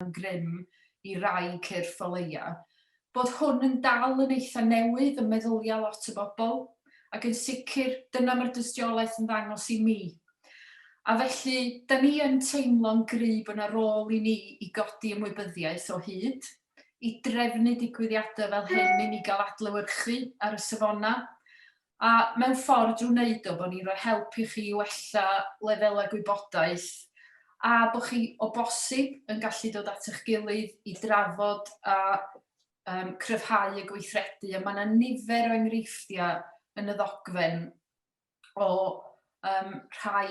yn grym i rai cyrff o leia', bod hwn yn dal yn eitha' newydd ym meddylia' lot o bobl, ac yn sicr, dyna ma'r dystiolaeth yn ddangos i mi. A felly, 'dan ni yn teimlo'n gry' bo' 'na rôl i ni i godi ymwybyddiaeth o hyd, i drefnu digwyddiada' fel hyn i ni ga'l adlewyrchu ar y safona', A mewn ffordd drwy wneud o, bod ni'n rhoi help i chi i wella lefelau gwybodaeth a bod chi o bosib yn gallu dod at eich gilydd i drafod a um, cryfhau y gweithredu. A mae yna nifer o enghreifftiau yn y ddogfen o um, rhai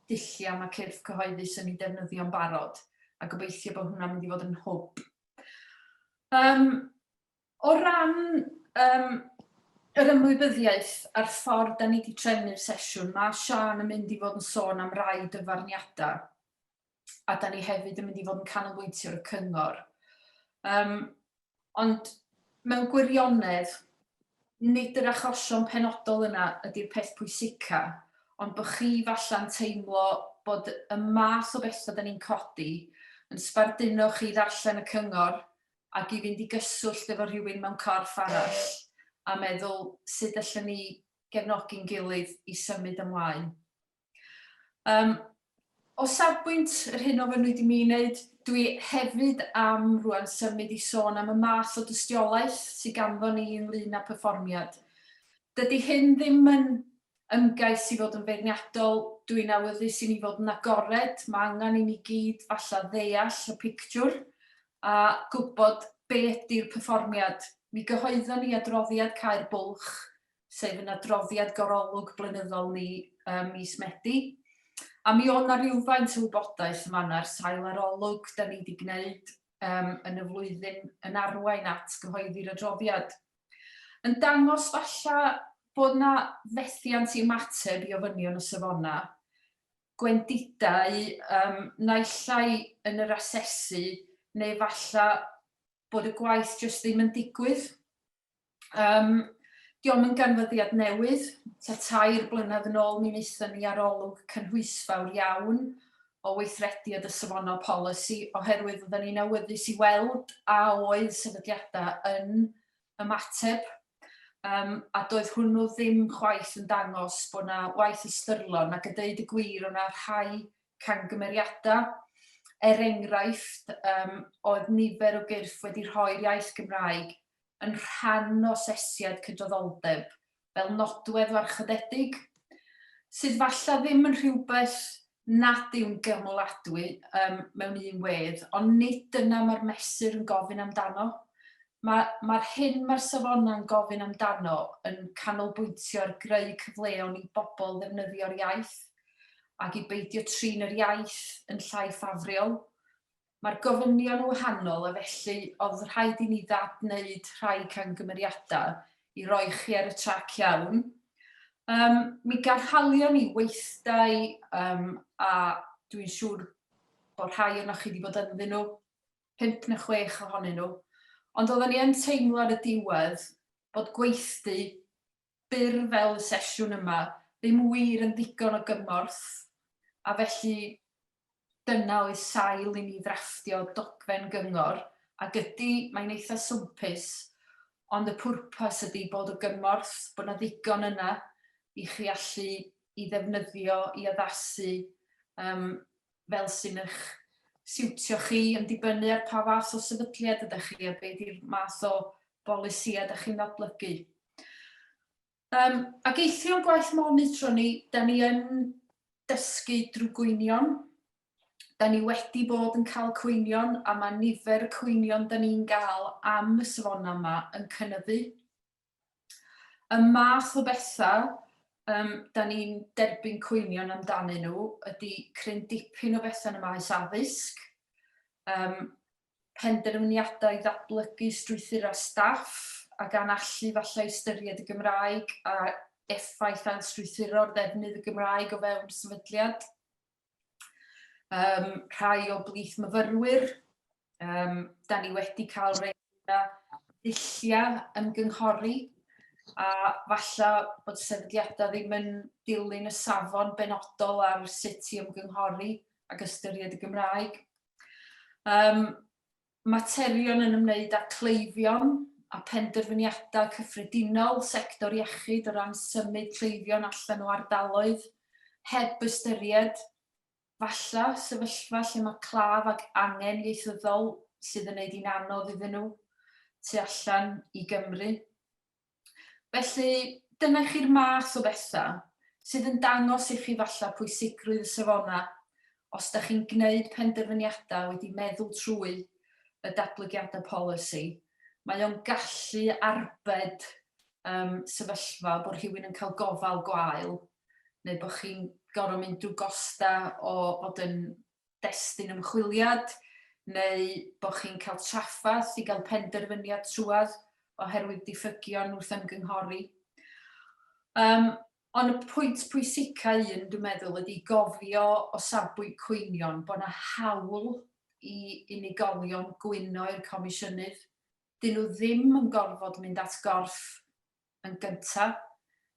dulliau mae cyrff cyhoeddus yn ei defnyddio'n barod a gobeithio bod hwnna'n mynd i fod yn hwb. Um, O ran yym yr ymwybyddiaeth a'r ffordd 'da ni 'di trefnu'r sesiwn, ma' Siân yn mynd i fod yn sôn am rai dyfarniada, a 'da ni hefyd yn mynd i fod yn canolbwyntio ar y cyngor. Yym ond mewn gwirionedd, nid yr achosion penodol yna ydi'r peth pwysica, ond bo' chi falla'n teimlo bod y math o betha 'da ni'n codi yn sbarduno chi i ddarllen y cyngor, ac i fynd i gyswllt efo rhywun mewn corff arall a meddwl sut allwn ni gefnogi'n gilydd i symud ymlaen. Um, o safbwynt yr hyn o fynwyd i mi wneud, dwi hefyd am rwan symud i sôn am y math o dystiolaeth sydd ganddo ni ynglyn â perfformiad. Dydy hyn ddim yn ymgais i fod yn feirniadol, dw i'n awyddus i ni fod yn agored, mae angen i ni gyd falle ddeall y pictiwr a gwybod be ydy'r perfformiad. Mi gyhoeddon ni adroddiad Cau'r Bwlch, sef yn adroddiad gorolwg blynyddol ni ym mis Medi, a mi oedd yna rywfaint o wybodaeth yn fan'na ar sail arolwg da ni wedi gwneud yn y flwyddyn yn arwain at gyhoeddi'r adroddiad. yn dangos falla bod 'na fethiant i ymateb i ofynion y safona, gwendidau yym naill ai yn yr asesu neu falla bod y gwaith jyst ddim yn digwydd. Um, Diolch yn ganfyddiad newydd, ta tair blynedd yn ôl mi wnaethon ni arolwg cynhwysfawr iawn o weithredu a dy safonau polisi oherwydd oedden ni'n awyddus i weld a oedd sefydliadau yn ymateb um, a doedd hwnnw ddim chwaith yn dangos bod yna waith ystyrlon ac yn dweud y gwir o'na rhai cangymeriadau er enghraifft um, oedd nifer o gyrff wedi rhoi'r iaith Gymraeg yn rhan o sesiad cydraddoldeb fel nodwedd warchodedig, sydd falle ddim yn rhywbeth nad yw'n gymyladwy um, mewn un wedd, ond nid dyna mae'r mesur yn gofyn amdano. Mae'r ma, ma hyn mae'r safonau'n gofyn amdano yn canolbwyntio ar greu cyfleon i bobl ddefnyddio'r iaith ac i beidio trin yr iaith yn llai ffafriol Mae'r gofynion yn wahanol a felly oedd rhaid i ni ddad-wneud rhai camgymeriadau i roi chi ar y trac iawn. Yym, mi ganhalion ni weithdai yym, a dwi'n siŵr bod rhai ohonoch chi wedi bod ynddyn nhw, pump neu chwech ohonyn nhw, ond oedden ni yn teimlo ar y diwedd bod gweithdy byr fel y sesiwn yma ddim wir yn ddigon o gymorth, a felly dyna oedd sail i mi ddrafftio dogfen gyngor, ac ydy, mae'n eitha' swmpus, ond y pwrpas ydy bod o gymorth, bod 'na ddigon yna i chi allu i ddefnyddio i addasu yym fel sy'n eich siwtio chi yn dibynnu ar pa fath o sefydliad ydych chi a be di'r math o bolisïau ydych chi'n adolygu. Um, ac eithrio gwaith monitro ni, da ni yn dysgu drwy gwynion, da ni wedi bod yn cael cwynion a mae nifer y cwynion da ni'n gael am y safona yma yn cynyddu. Y math o bethau um, da ni'n derbyn cwynion amdanyn nhw ydy cryn dipyn o bethau yn y maes addysg, um, penderfyniadau i ddatblygu strwythurau staff a gan allu falle ystyried y Gymraeg a effaith ailstrwythuro'r ddefnydd y Gymraeg o fewn sefydliad. Um, rhai o blith myfyrwyr, um, da ni wedi cael rei yna dulliau yn gynghori, a falle bod sefydliadau ddim yn dilyn y safon benodol ar sut i ymgynghori ac ystyried y Gymraeg. Um, materion yn ymwneud â cleifion a phenderfyniadau cyffredinol sector iechyd o ran symud cleifion allan o ardaloedd, heb ystyried, falle, sefyllfa lle mae claf ag angen ieithyddol sydd yn ei wneud hi'n anodd iddyn nhw tu allan i Gymru. Felly, dyna i chi'r math o bethau sydd yn dangos i chi falle pwysigrwydd y safonau os da chi'n gwneud penderfyniadau wedi meddwl trwy y datblygiadau polisi. Mae o'n gallu arbed um, sefyllfa bod rhywun yn cael gofal gwael neu bod chi'n gorfod mynd drwy gosta o fod yn destun ymchwiliad neu bod chi'n cael trafferth i gael penderfyniad trwad oherwydd diffygion wrth ymgynghori. Um, ond y pwynt pwysica un, dwi'n meddwl, ydy gofio o safbwynt cwynion bod yna hawl i unigolion gwyno i'r comisiynydd. Dyn nhw ddim yn gorfod mynd at gorff Yn gyntaf,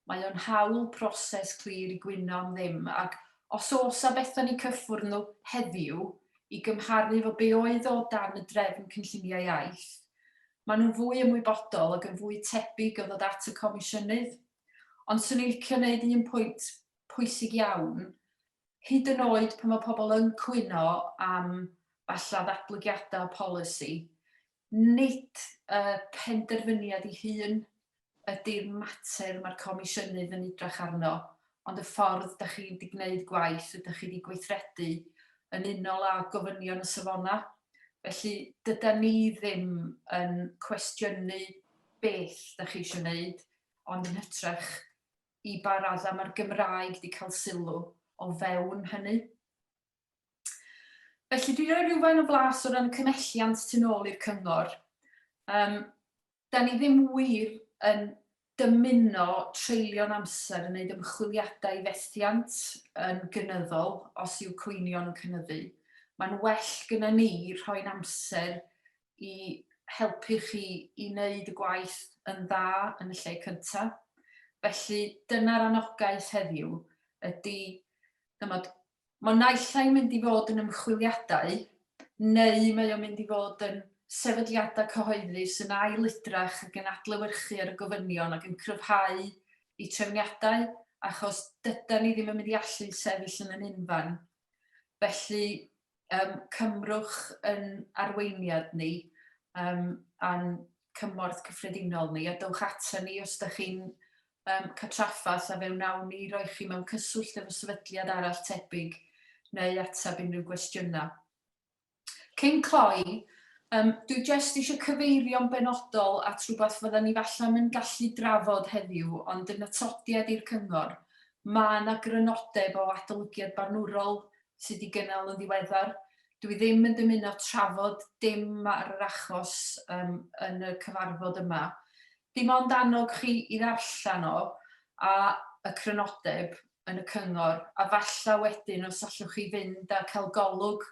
mae o'n hawl proses clir i gwyno am ddim ac os oes a fetho ni cyffwrdd nhw heddiw i gymharu efo be oedd o dan y drefn cynllunio iaith, mae nhw'n fwy ymwybodol ac yn fwy tebyg o ddod at y Comisiynydd. Ond 'swn i'n licio neud un pwynt pwysig iawn, hyd yn oed pan mae pobl yn cwyno am falla ddatblygiadau polisi, Nid y penderfyniad ei hun ydy'r mater mae'r Comisiynydd yn edrych arno, ond y ffordd dach chi wedi gwneud gwaith a dach chi wedi gweithredu yn unol â gofynion y Safonau. Felly, dydan ni ddim yn cwestiynu beth dach chi eisiau wneud, ond yn hytrach i ba raddau mae'r Gymraeg wedi cael sylw o fewn hynny. Felly, dwi'n rhoi rhywfaint o flas o ran y cymhelliant tu nôl i'r cyngor. Um, da ni ddim wir yn dymuno treulio'n amser yn gwneud ymchwiliadau i fethiant yn gynyddol os yw cwynion yn cynnyddu. Mae'n well gyda ni rhoi'n amser i helpu chi i wneud y gwaith yn dda yn y lle cyntaf. Felly dyna'r anogaeth heddiw ydy ymod, Mae naill ai'n mynd i fod yn ymchwiliadau, neu mae o'n mynd i fod yn sefydliadau cyhoeddus yn ail-edrych ac yn adlewyrchu ar y gofynion ac yn cryfhau eu trefniadau, achos dydan ni ddim yn mynd i allu sefyll yn ein unfan. Felly, yym, cymrwch yn arweiniad ni, yym, a'n cymorth cyffredinol ni a dowch ata ni os ydych chi'n um, catraffaeth a fe wnawn ni roi chi mewn cyswllt efo sefydliad arall tebyg neu ateb unrhyw gwestiynau. Cyn cloi, um, dwi jyst eisiau cyfeirio'n benodol at rhywbeth fydda ni falle'n yn gallu drafod heddiw, ond yn atodiad i'r cyngor, mae yna grynodeb o adolygiad barnwrol sydd wedi gynnal yn ddiweddar, dwi ddim yn dymuno trafod dim ar yr achos yym yn y cyfarfod yma. Dim ond annog chi i ddarllen o a y crynodeb yn y cyngor, a falla wedyn os allwch chi fynd a cael golwg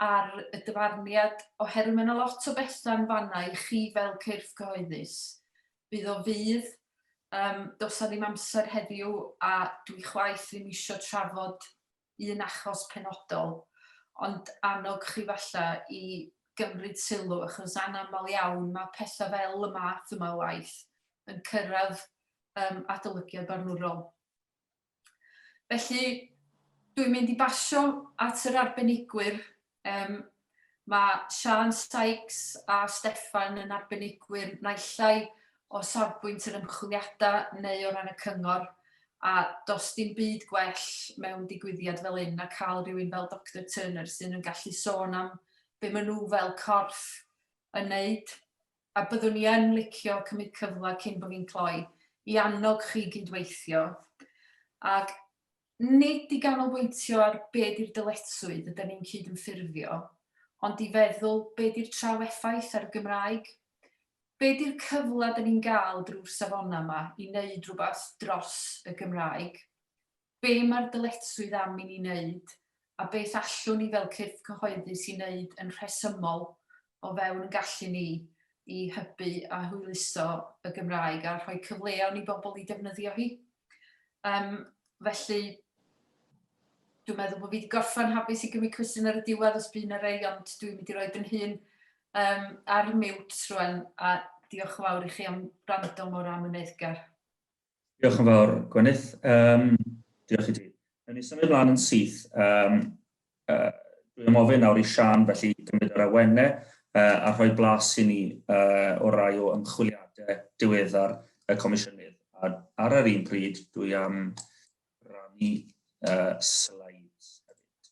ar y dyfarniad, oherwydd mae yna lot o bethau yn fanna i chi fel cyrff cyhoeddus. Bydd o fydd, um, dos a ddim amser heddiw a dwi chwaith ddim eisiau trafod un achos penodol, ond annog chi falle i gymryd sylw, achos anaml iawn mae pethau fel y math yma o waith yn cyrraedd um, adolygiad barnwrol. Felly, dwi'n mynd i basio at yr arbenigwyr Yym, mae Siân Sykes a Steffan yn arbenigwyr naill ai o safbwynt yr ymchwiliadau neu o ran y cyngor, a does dim byd gwell mewn digwyddiad fel hyn na cael rhywun fel Doctor Turner sydd yn gallu sôn am be maen nhw fel corff yn wneud. A byddwn i yn licio cymryd cyfle cyn bod fi'n cloi i annog chi gyd-weithio ac nid i ganolbwyntio ar be di'r dyletswydd ydan ni'n cyd-ymffurfio, ond i feddwl be di'r trafeffaith ar y Gymraeg? Be di'r cyfle dan ni'n gael drwy'r safonau yma i neud rhywbeth dros y Gymraeg? Be mae'r dyletswydd am i ni neud a beth allwn ni fel cyrff cyhoeddus i wneud yn rhesymol o fewn gallu ni i hybu a hwyluso y Gymraeg a rhoi cyfleon i bobl i defnyddio hi. Yym felly dwi'n meddwl bod fi wedi gorffen hapus i gymryd cwestiwn ar y diwedd os bydd yna rei ond dwi'n mynd i roi yn hun um, ar mute rwan a diolch yn fawr i chi am rando mor amyneddgar. Diolch yn fawr, Gwenith. Um, diolch i ti. Yn ni symud mlaen yn syth. Um, uh, dwi'n ofyn nawr i Sian felly gymryd yr awenne uh, a rhoi blas i ni uh, o rai o ymchwiliadau diweddar y Comisiynydd. A ar yr un pryd, dwi am rannu uh, slides hefyd.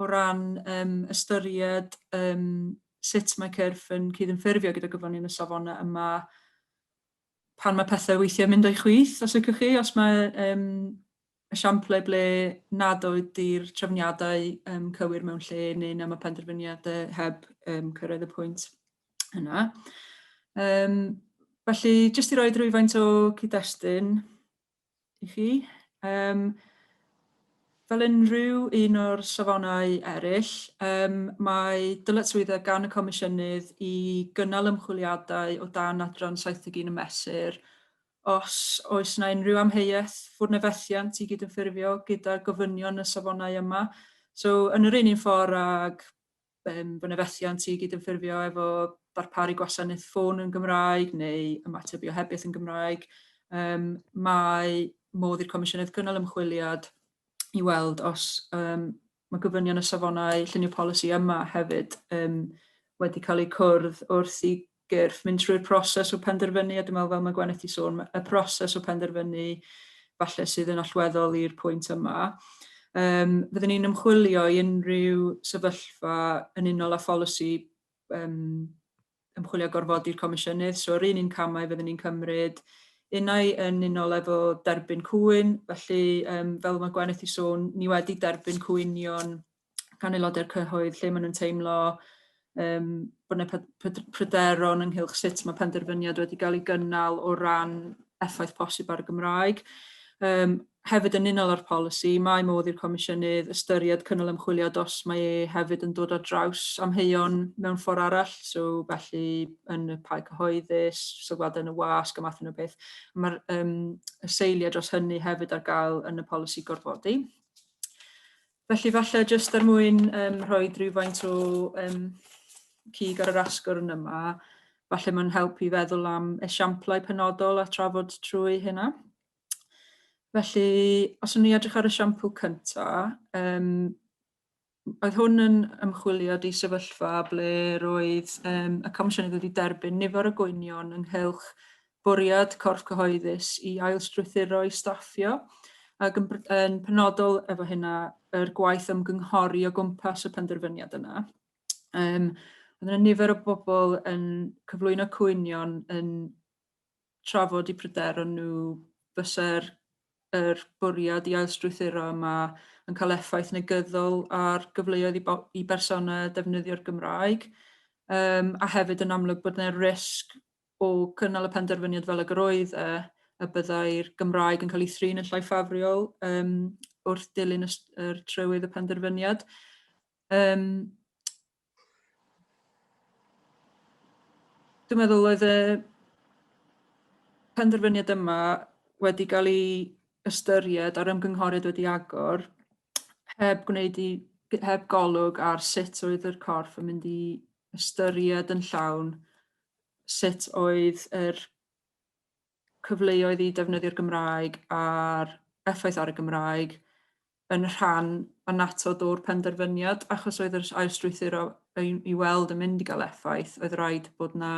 o ran yym ystyried yym sut mae cyrff yn cydymffurfio gyda gyflawni yn y safonau yma pan mae pethau weithiau mynd o'i chwith, os ydych chi, os mae um, esiamplau ble nad ydy'r trefniadau um, cywir mewn lle neu na mae penderfyniadau heb um, cyrraedd y pwynt yna. Um, felly, jyst i roi rhywfaint o cyd-destun, i chi. Um, fel unrhyw un o'r safonau eraill, um, mae dyletswyddau gan y Comisiynydd i gynnal ymchwiliadau o dan adran 71 y mesur os oes yna unrhyw amheuaeth fod na fethiant i gydymffurfio gyda gofynion y safonau yma. So, yn yr un un ffordd ag yym, bod yna fethiant i gydymffurfio efo darparu gwasanaeth ffôn yn Gymraeg neu ymateb i ohebiaeth yn Gymraeg. Um, mae modd i'r Comisiynydd gynnal ymchwiliad i weld os um, mae gofynion y safonau llunio polisi yma hefyd um, wedi cael eu cwrdd wrth i gyrff, mynd trwy'r proses o penderfynu, a dwi'n meddwl fel mae Gweneth wedi sôn, y proses o penderfynu falle sydd yn allweddol i'r pwynt yma. Um, fyddwn ni'n ymchwilio i unrhyw sefyllfa yn unol â pholisi um, ymchwilio gorfodi'r comisiynydd, so yr un un camau fyddwn ni'n cymryd unau yn unol efo derbyn cwyn, felly um, fel mae Gweneth i sôn, ni wedi derbyn cwynion gan aelodau'r cyhoedd lle maen nhw'n teimlo um, bod yna pryderon ynghylch sut mae penderfyniad wedi cael ei gynnal o ran effaith posib ar y Gymraeg. Um, hefyd yn unol â'r polisi, mae modd i'r Comisiynydd ystyried cynnal ymchwilio os mae e hefyd yn dod ar draws amheuon mewn ffordd arall, so felly yn y pae cyhoeddus, sylwadau yn y wasg a math yna beth. Mae'r um, seiliau dros hynny hefyd ar gael yn y polisi gorfodi. Felly falle jyst er mwyn um, rhoi rhywfaint o um, cig ar yr asgwrn yma, falle mae'n helpu i feddwl am esiamplau penodol a trafod trwy hynna. Felly, os o'n ni edrych ar y siampl cyntaf, um, oedd hwn yn ymchwilio di sefyllfa ble roedd um, y Comisiynydd wedi derbyn nifer o gwynion ynghylch bwriad corff cyhoeddus i ailstrwythuro ei staffio ac yn yn penodol efo hynna yr gwaith ymgynghori o gwmpas y penderfyniad yna. Yym oedd yna nifer o bobl yn cyflwyno cwynion yn trafod i pryder ond nhw fysa'r yr bwriad i ailstrwythuro yma yn cael effaith negyddol ar gyfleoedd i, i bersonau defnyddio'r Gymraeg um, a hefyd yn amlwg bod yna risg o gynnal y penderfyniad fel ag yr oedd e, y byddai'r Gymraeg yn cael ei thrin yn llai ffafriol um, wrth dilyn y, yr trywydd y penderfyniad. Um, dwi'n meddwl oedd y penderfyniad yma wedi cael ei ystyried a'r ymgynghoriad wedi agor heb gwneud i heb golwg ar sut oedd yr corff yn mynd i ystyried yn llawn sut oedd yr cyfleoedd i defnyddio'r Gymraeg a'r effaith ar y Gymraeg yn rhan annatod o'r penderfyniad, achos oedd yr ail strwythuro i, i weld yn mynd i gael effaith, oedd rhaid bod na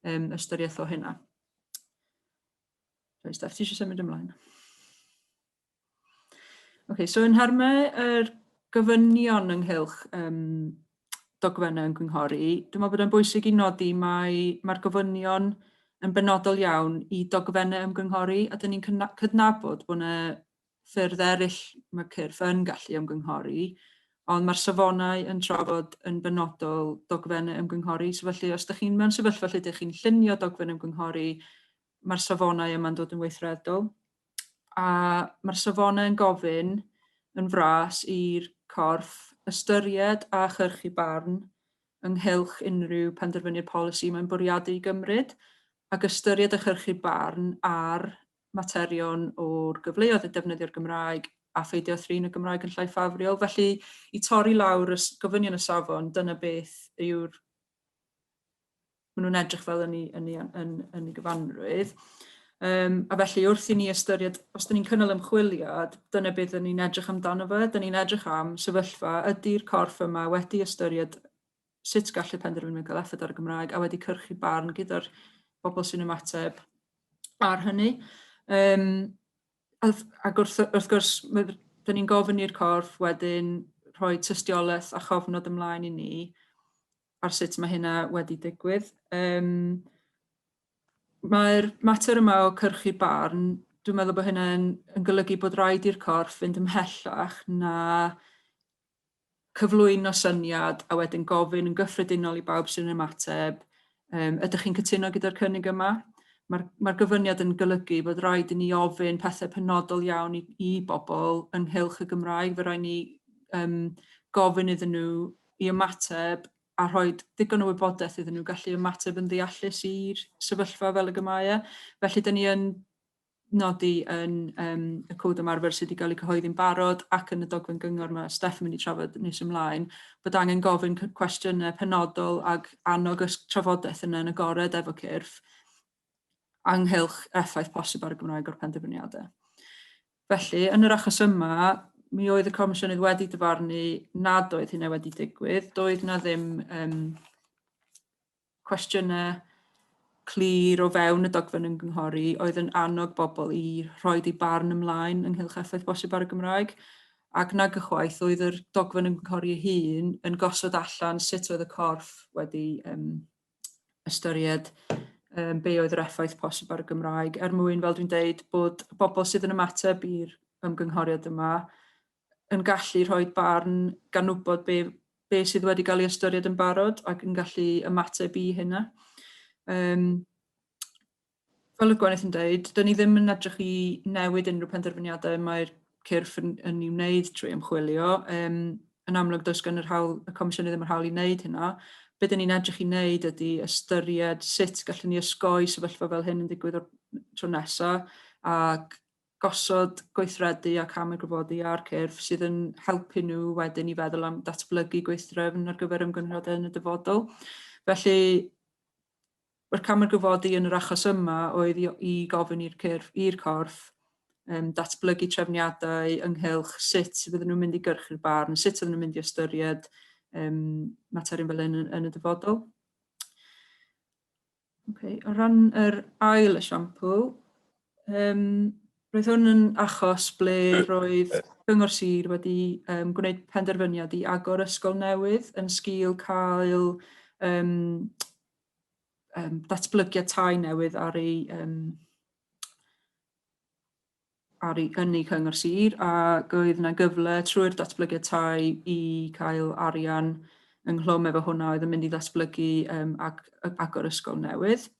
um, ystyriaeth o hynna. Rhaid, Steph, ti eisiau symud ymlaen? Ok, so yn nhermau yr gofynion ynghylch um, dogfennau yn gynghori, dwi'n meddwl bod e'n bwysig i nodi mae mae'r gofynion yn benodol iawn i dogfennau ymgynghori a dyn ni'n cydnabod bod yna ffyrdd eraill mae cyrff yn gallu ymgynghori, ond mae'r safonau yn trafod yn benodol dogfennau ymgynghori. So felly, os ydych chi'n mewn sefyllfa lle ydych chi'n llunio dogfen ymgynghori, mae'r safonau yma'n dod yn weithredol, a mae'r safonau yn gofyn yn fras i'r corff ystyried a chyrchu barn ynghylch unrhyw penderfyniad polisi mae'n bwriadu i gymryd, ac ystyried a chyrchu barn ar materion o'r gyfleoedd i defnyddio'r Gymraeg a pheidio â thrin y Gymraeg yn llai ffafriol. Felly, i torri lawr y gofynion y safon, dyna beth yw'r maen nhw'n edrych fel yn ei, yn ei, yn, yn ei gyfanrwydd. Um, a felly wrth i ni ystyried, os dyn ni'n cynnal ymchwiliad, dyna beth dyn ni'n edrych amdano fe, dyn ni'n edrych am sefyllfa, ydy'r corff yma wedi ystyried sut gallu penderfynu cael effaith ar y Gymraeg a wedi cyrchu barn gyda'r bobl sy'n ymateb ar hynny. Um, ac wrth, wrth gwrs, dyn ni'n gofyn i'r corff wedyn rhoi tystiolaeth a chofnod ymlaen i ni, ar sut mae hynna wedi digwydd. Um, Mae'r mater yma o cyrchu barn, dwi'n meddwl bod hynny'n yn golygu bod rhaid i'r corff fynd ymhellach na cyflwyno syniad a wedyn gofyn yn gyffredinol i bawb sy'n ymateb, um, ydych chi'n cytuno gyda'r cynnig yma? Mae'r mae gyfyniad yn golygu bod rhaid i ni ofyn pethau penodol iawn i, i bobl ynghylch y Gymraeg, fe rhaid ni um, gofyn iddyn nhw i ymateb a rhoi digon o wybodaeth iddyn nhw gallu ymateb yn ddeallus i'r sefyllfa fel y gymau e. Felly, dyn ni yn nodi yn um, y cod ymarfer sydd wedi cael ei cyhoeddi'n barod ac yn y dogfen gyngor mae Steph yn mynd i trafod nes ymlaen, bod angen gofyn cwestiynau penodol ac annog y trafodaeth yna yn agored efo cyrff anghylch effaith posib ar y Gymraeg o'r penderfyniadau. Felly, yn yr achos yma, mi oedd y Comisiynydd wedi dyfarnu nad oedd hynna wedi digwydd. Doedd na ddim um, cwestiynau clir o fewn y dogfen yn gynghori oedd yn annog bobl i rhoi eu barn ymlaen ynghylch effaith bosib ar y Gymraeg ac nag ychwaith oedd yr dogfen yn gynghori ei hun yn gosod allan sut oedd y corff wedi um, ystyried um, be oedd yr effaith posib ar y Gymraeg, er mwyn, fel dwi'n deud, bod y bobl sydd yn ymateb i'r ymgynghoriad yma yn gallu rhoi barn gan wybod be, be sydd wedi cael ei ystyried yn barod ac yn gallu ymateb i hynna. Um, fel y gwenith yn dweud, dyn ni ddim yn edrych i newid unrhyw penderfyniadau mae'r cyrff yn, yn ei wneud trwy ymchwilio. Um, yn amlwg, does gan yr hawl, y Comisiynau ddim yr hawl i wneud hynna. Be dyn ni'n edrych i wneud ydy ystyried sut gallwn ni ysgoi sefyllfa fel hyn yn digwydd o'r tro nesaf ac gosod gweithredu a cam y gwyfodi a'r cyrff sydd yn helpu nhw wedyn i feddwl am datblygu gweithdrefn ar gyfer ymgynghoriadau yn y dyfodol. Felly, Mae'r cam ar gyfodi yn yr achos yma oedd i, i gofyn i'r cyrff, i'r corff um, datblygu trefniadau ynghylch sut fydden nhw'n mynd i gyrchu'r barn, sut fydden nhw'n mynd i ystyried um, materion fel yn, yn y dyfodol. Okay. O ran yr ail esiampl, Yym, roedd hwn yn achos ble roedd Cyngor Sir wedi um, gwneud penderfyniad i agor ysgol newydd yn sgil cael um, um, datblygiad tai newydd ar ei, um, ar ei ynni Cyngor Sir a oedd yna gyfle trwy'r datblygiad tai i cael arian ynghlwm efo hwnna oedd yn mynd i ddatblygu um, ag, agor ysgol newydd.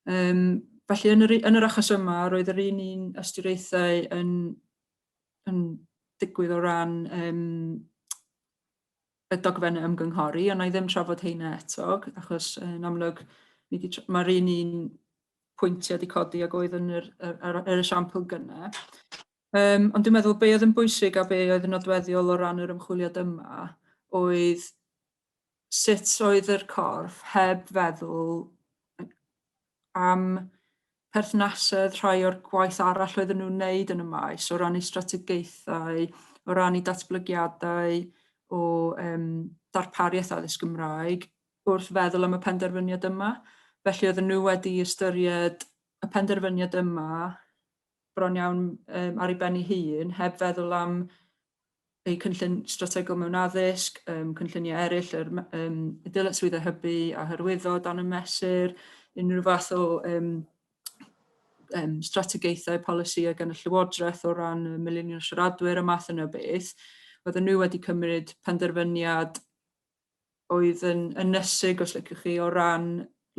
Um, felly, yn yr, yn yr achos yma, roedd yr un un ystyriaethau yn, yn digwydd o ran um, y dogfen ymgynghori, ond na i ddim trafod heina eto, achos yn amlwg mae'r un un pwyntiau wedi codi ac oedd yn yr, yr, yr, yr esiampl gyna. Um, ond dwi'n meddwl be oedd yn bwysig a be oedd yn nodweddiol o ran yr ymchwiliad yma oedd sut oedd yr corff heb feddwl am perthnasedd rhai o'r gwaith arall oedden nhw'n wneud yn y maes o ran eu strategaethau, o ran eu datblygiadau o um, darpariaeth addysg Gymraeg wrth feddwl am y penderfyniad yma. Felly oedden nhw wedi ystyried y penderfyniad yma bron iawn um, ar ei ben ei hun, heb feddwl am eu cynllun strategol mewn addysg, um, cynlluniau eraill, yr um, dyletswydd a hybu a hyrwyddo dan y mesur, unrhyw fath o um, um, strategaethau polisïau gan y Llywodraeth o ran y milinion siaradwyr a math yna beth, oedden nhw wedi cymryd penderfyniad oedd yn ynysig, os liciwch chi, o ran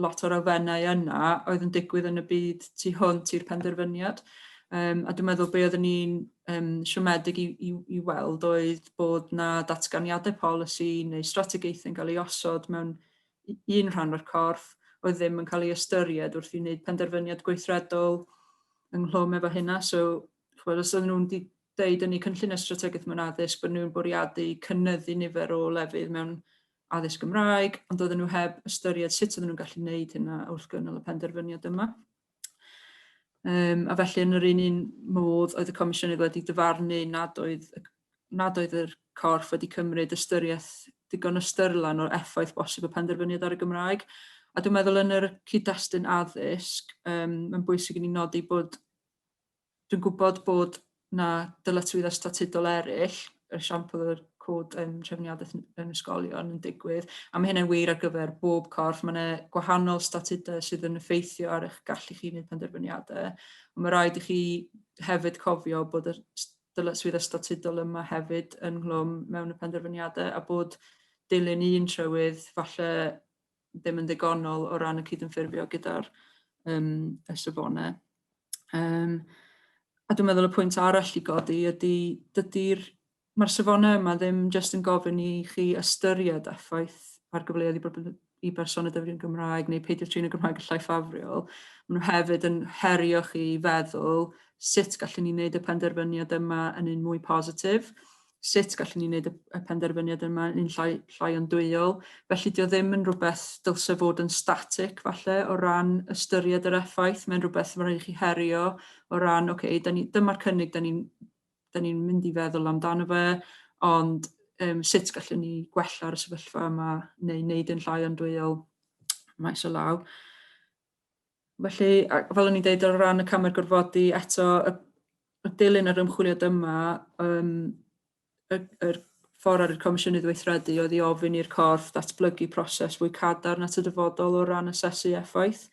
lot o'r elfennau yna oedd yn digwydd yn y byd tu hwnt i'r penderfyniad. Um, a dwi'n meddwl be oeddwn ni'n um, siomedig i, i, i weld oedd bod na datganiadau polisi neu strategaethau yn cael ei osod mewn un rhan o'r corff oedd ddim yn cael ei ystyried wrth i wneud penderfyniad gweithredol ynghlwm efo hynna. So, chwbod, os oedden nhw'n deud yn eu cynlluniau strategaeth mewn addysg bod nhw'n bwriadu cynyddu nifer o lefydd mewn addysg Gymraeg, ond doedden nhw heb ystyried sut oedden nhw'n gallu gwneud hynna wrth gynnal y penderfyniad yma. Um, a felly yn yr un un modd oedd y Comisiynydd wedi dyfarnu nad oedd, nad oedd yr corff wedi cymryd ystyriaeth digon ystyrlan o'r effaith bosib y penderfyniad ar y Gymraeg. A dwi'n meddwl yn yr cyd-destun addysg, um, mae'n bwysig i ni nodi bod Dwi'n gwybod bod 'na dyletswyddau statudol eraill, yr esiampl o'r cod yym trefniadaeth yn yn ysgolion yn digwydd, a ma' hynna'n wir ar gyfer bob corff. Ma' 'na gwahanol statudau sydd yn effeithio ar eich gallu chi wneud penderfyniadau, ond ma' raid i chi hefyd cofio bod y s- dyletswyddau statudol yma hefyd ynghlwm mewn y penderfyniadau, a bod dilyn un trywydd falle ddim yn ddigonol o ran y cydymffurfio gyda'r um, y safonau. Um, a dwi'n meddwl y pwynt arall i godi ydy, dydy'r mae'r safonau yma ddim jyst yn gofyn i chi ystyried effaith ar gyfleoedd i, bobl, i berson y dyfryn Gymraeg neu peidio trin y Gymraeg yn llai ffafriol. Maen nhw hefyd yn herio chi i feddwl sut gallwn ni wneud y penderfyniad yma yn un mwy positif sut gallwn ni wneud y penderfyniad yma yn llai, llai o'n dwyol. Felly, dio ddim yn rhywbeth dylse fod yn static, falle, o ran ystyried yr effaith. Mae'n rhywbeth mae'n rhaid chi herio o ran, oce, okay, ni, dyma'r cynnig da ni'n ni mynd i feddwl amdano fe, ond um, sut gallwn ni gwella'r sefyllfa yma neu wneud yn llai o'n dwyol maes o law. Felly, fel o'n i'n deud o ran y camau'r gorfodi, eto y, y dilyn yr ymchwiliad yma, um, y, yr ffordd ar y Comisiynydd Weithredu oedd i ofyn i'r corff datblygu proses fwy cadarn at y dyfodol o ran asesu effaith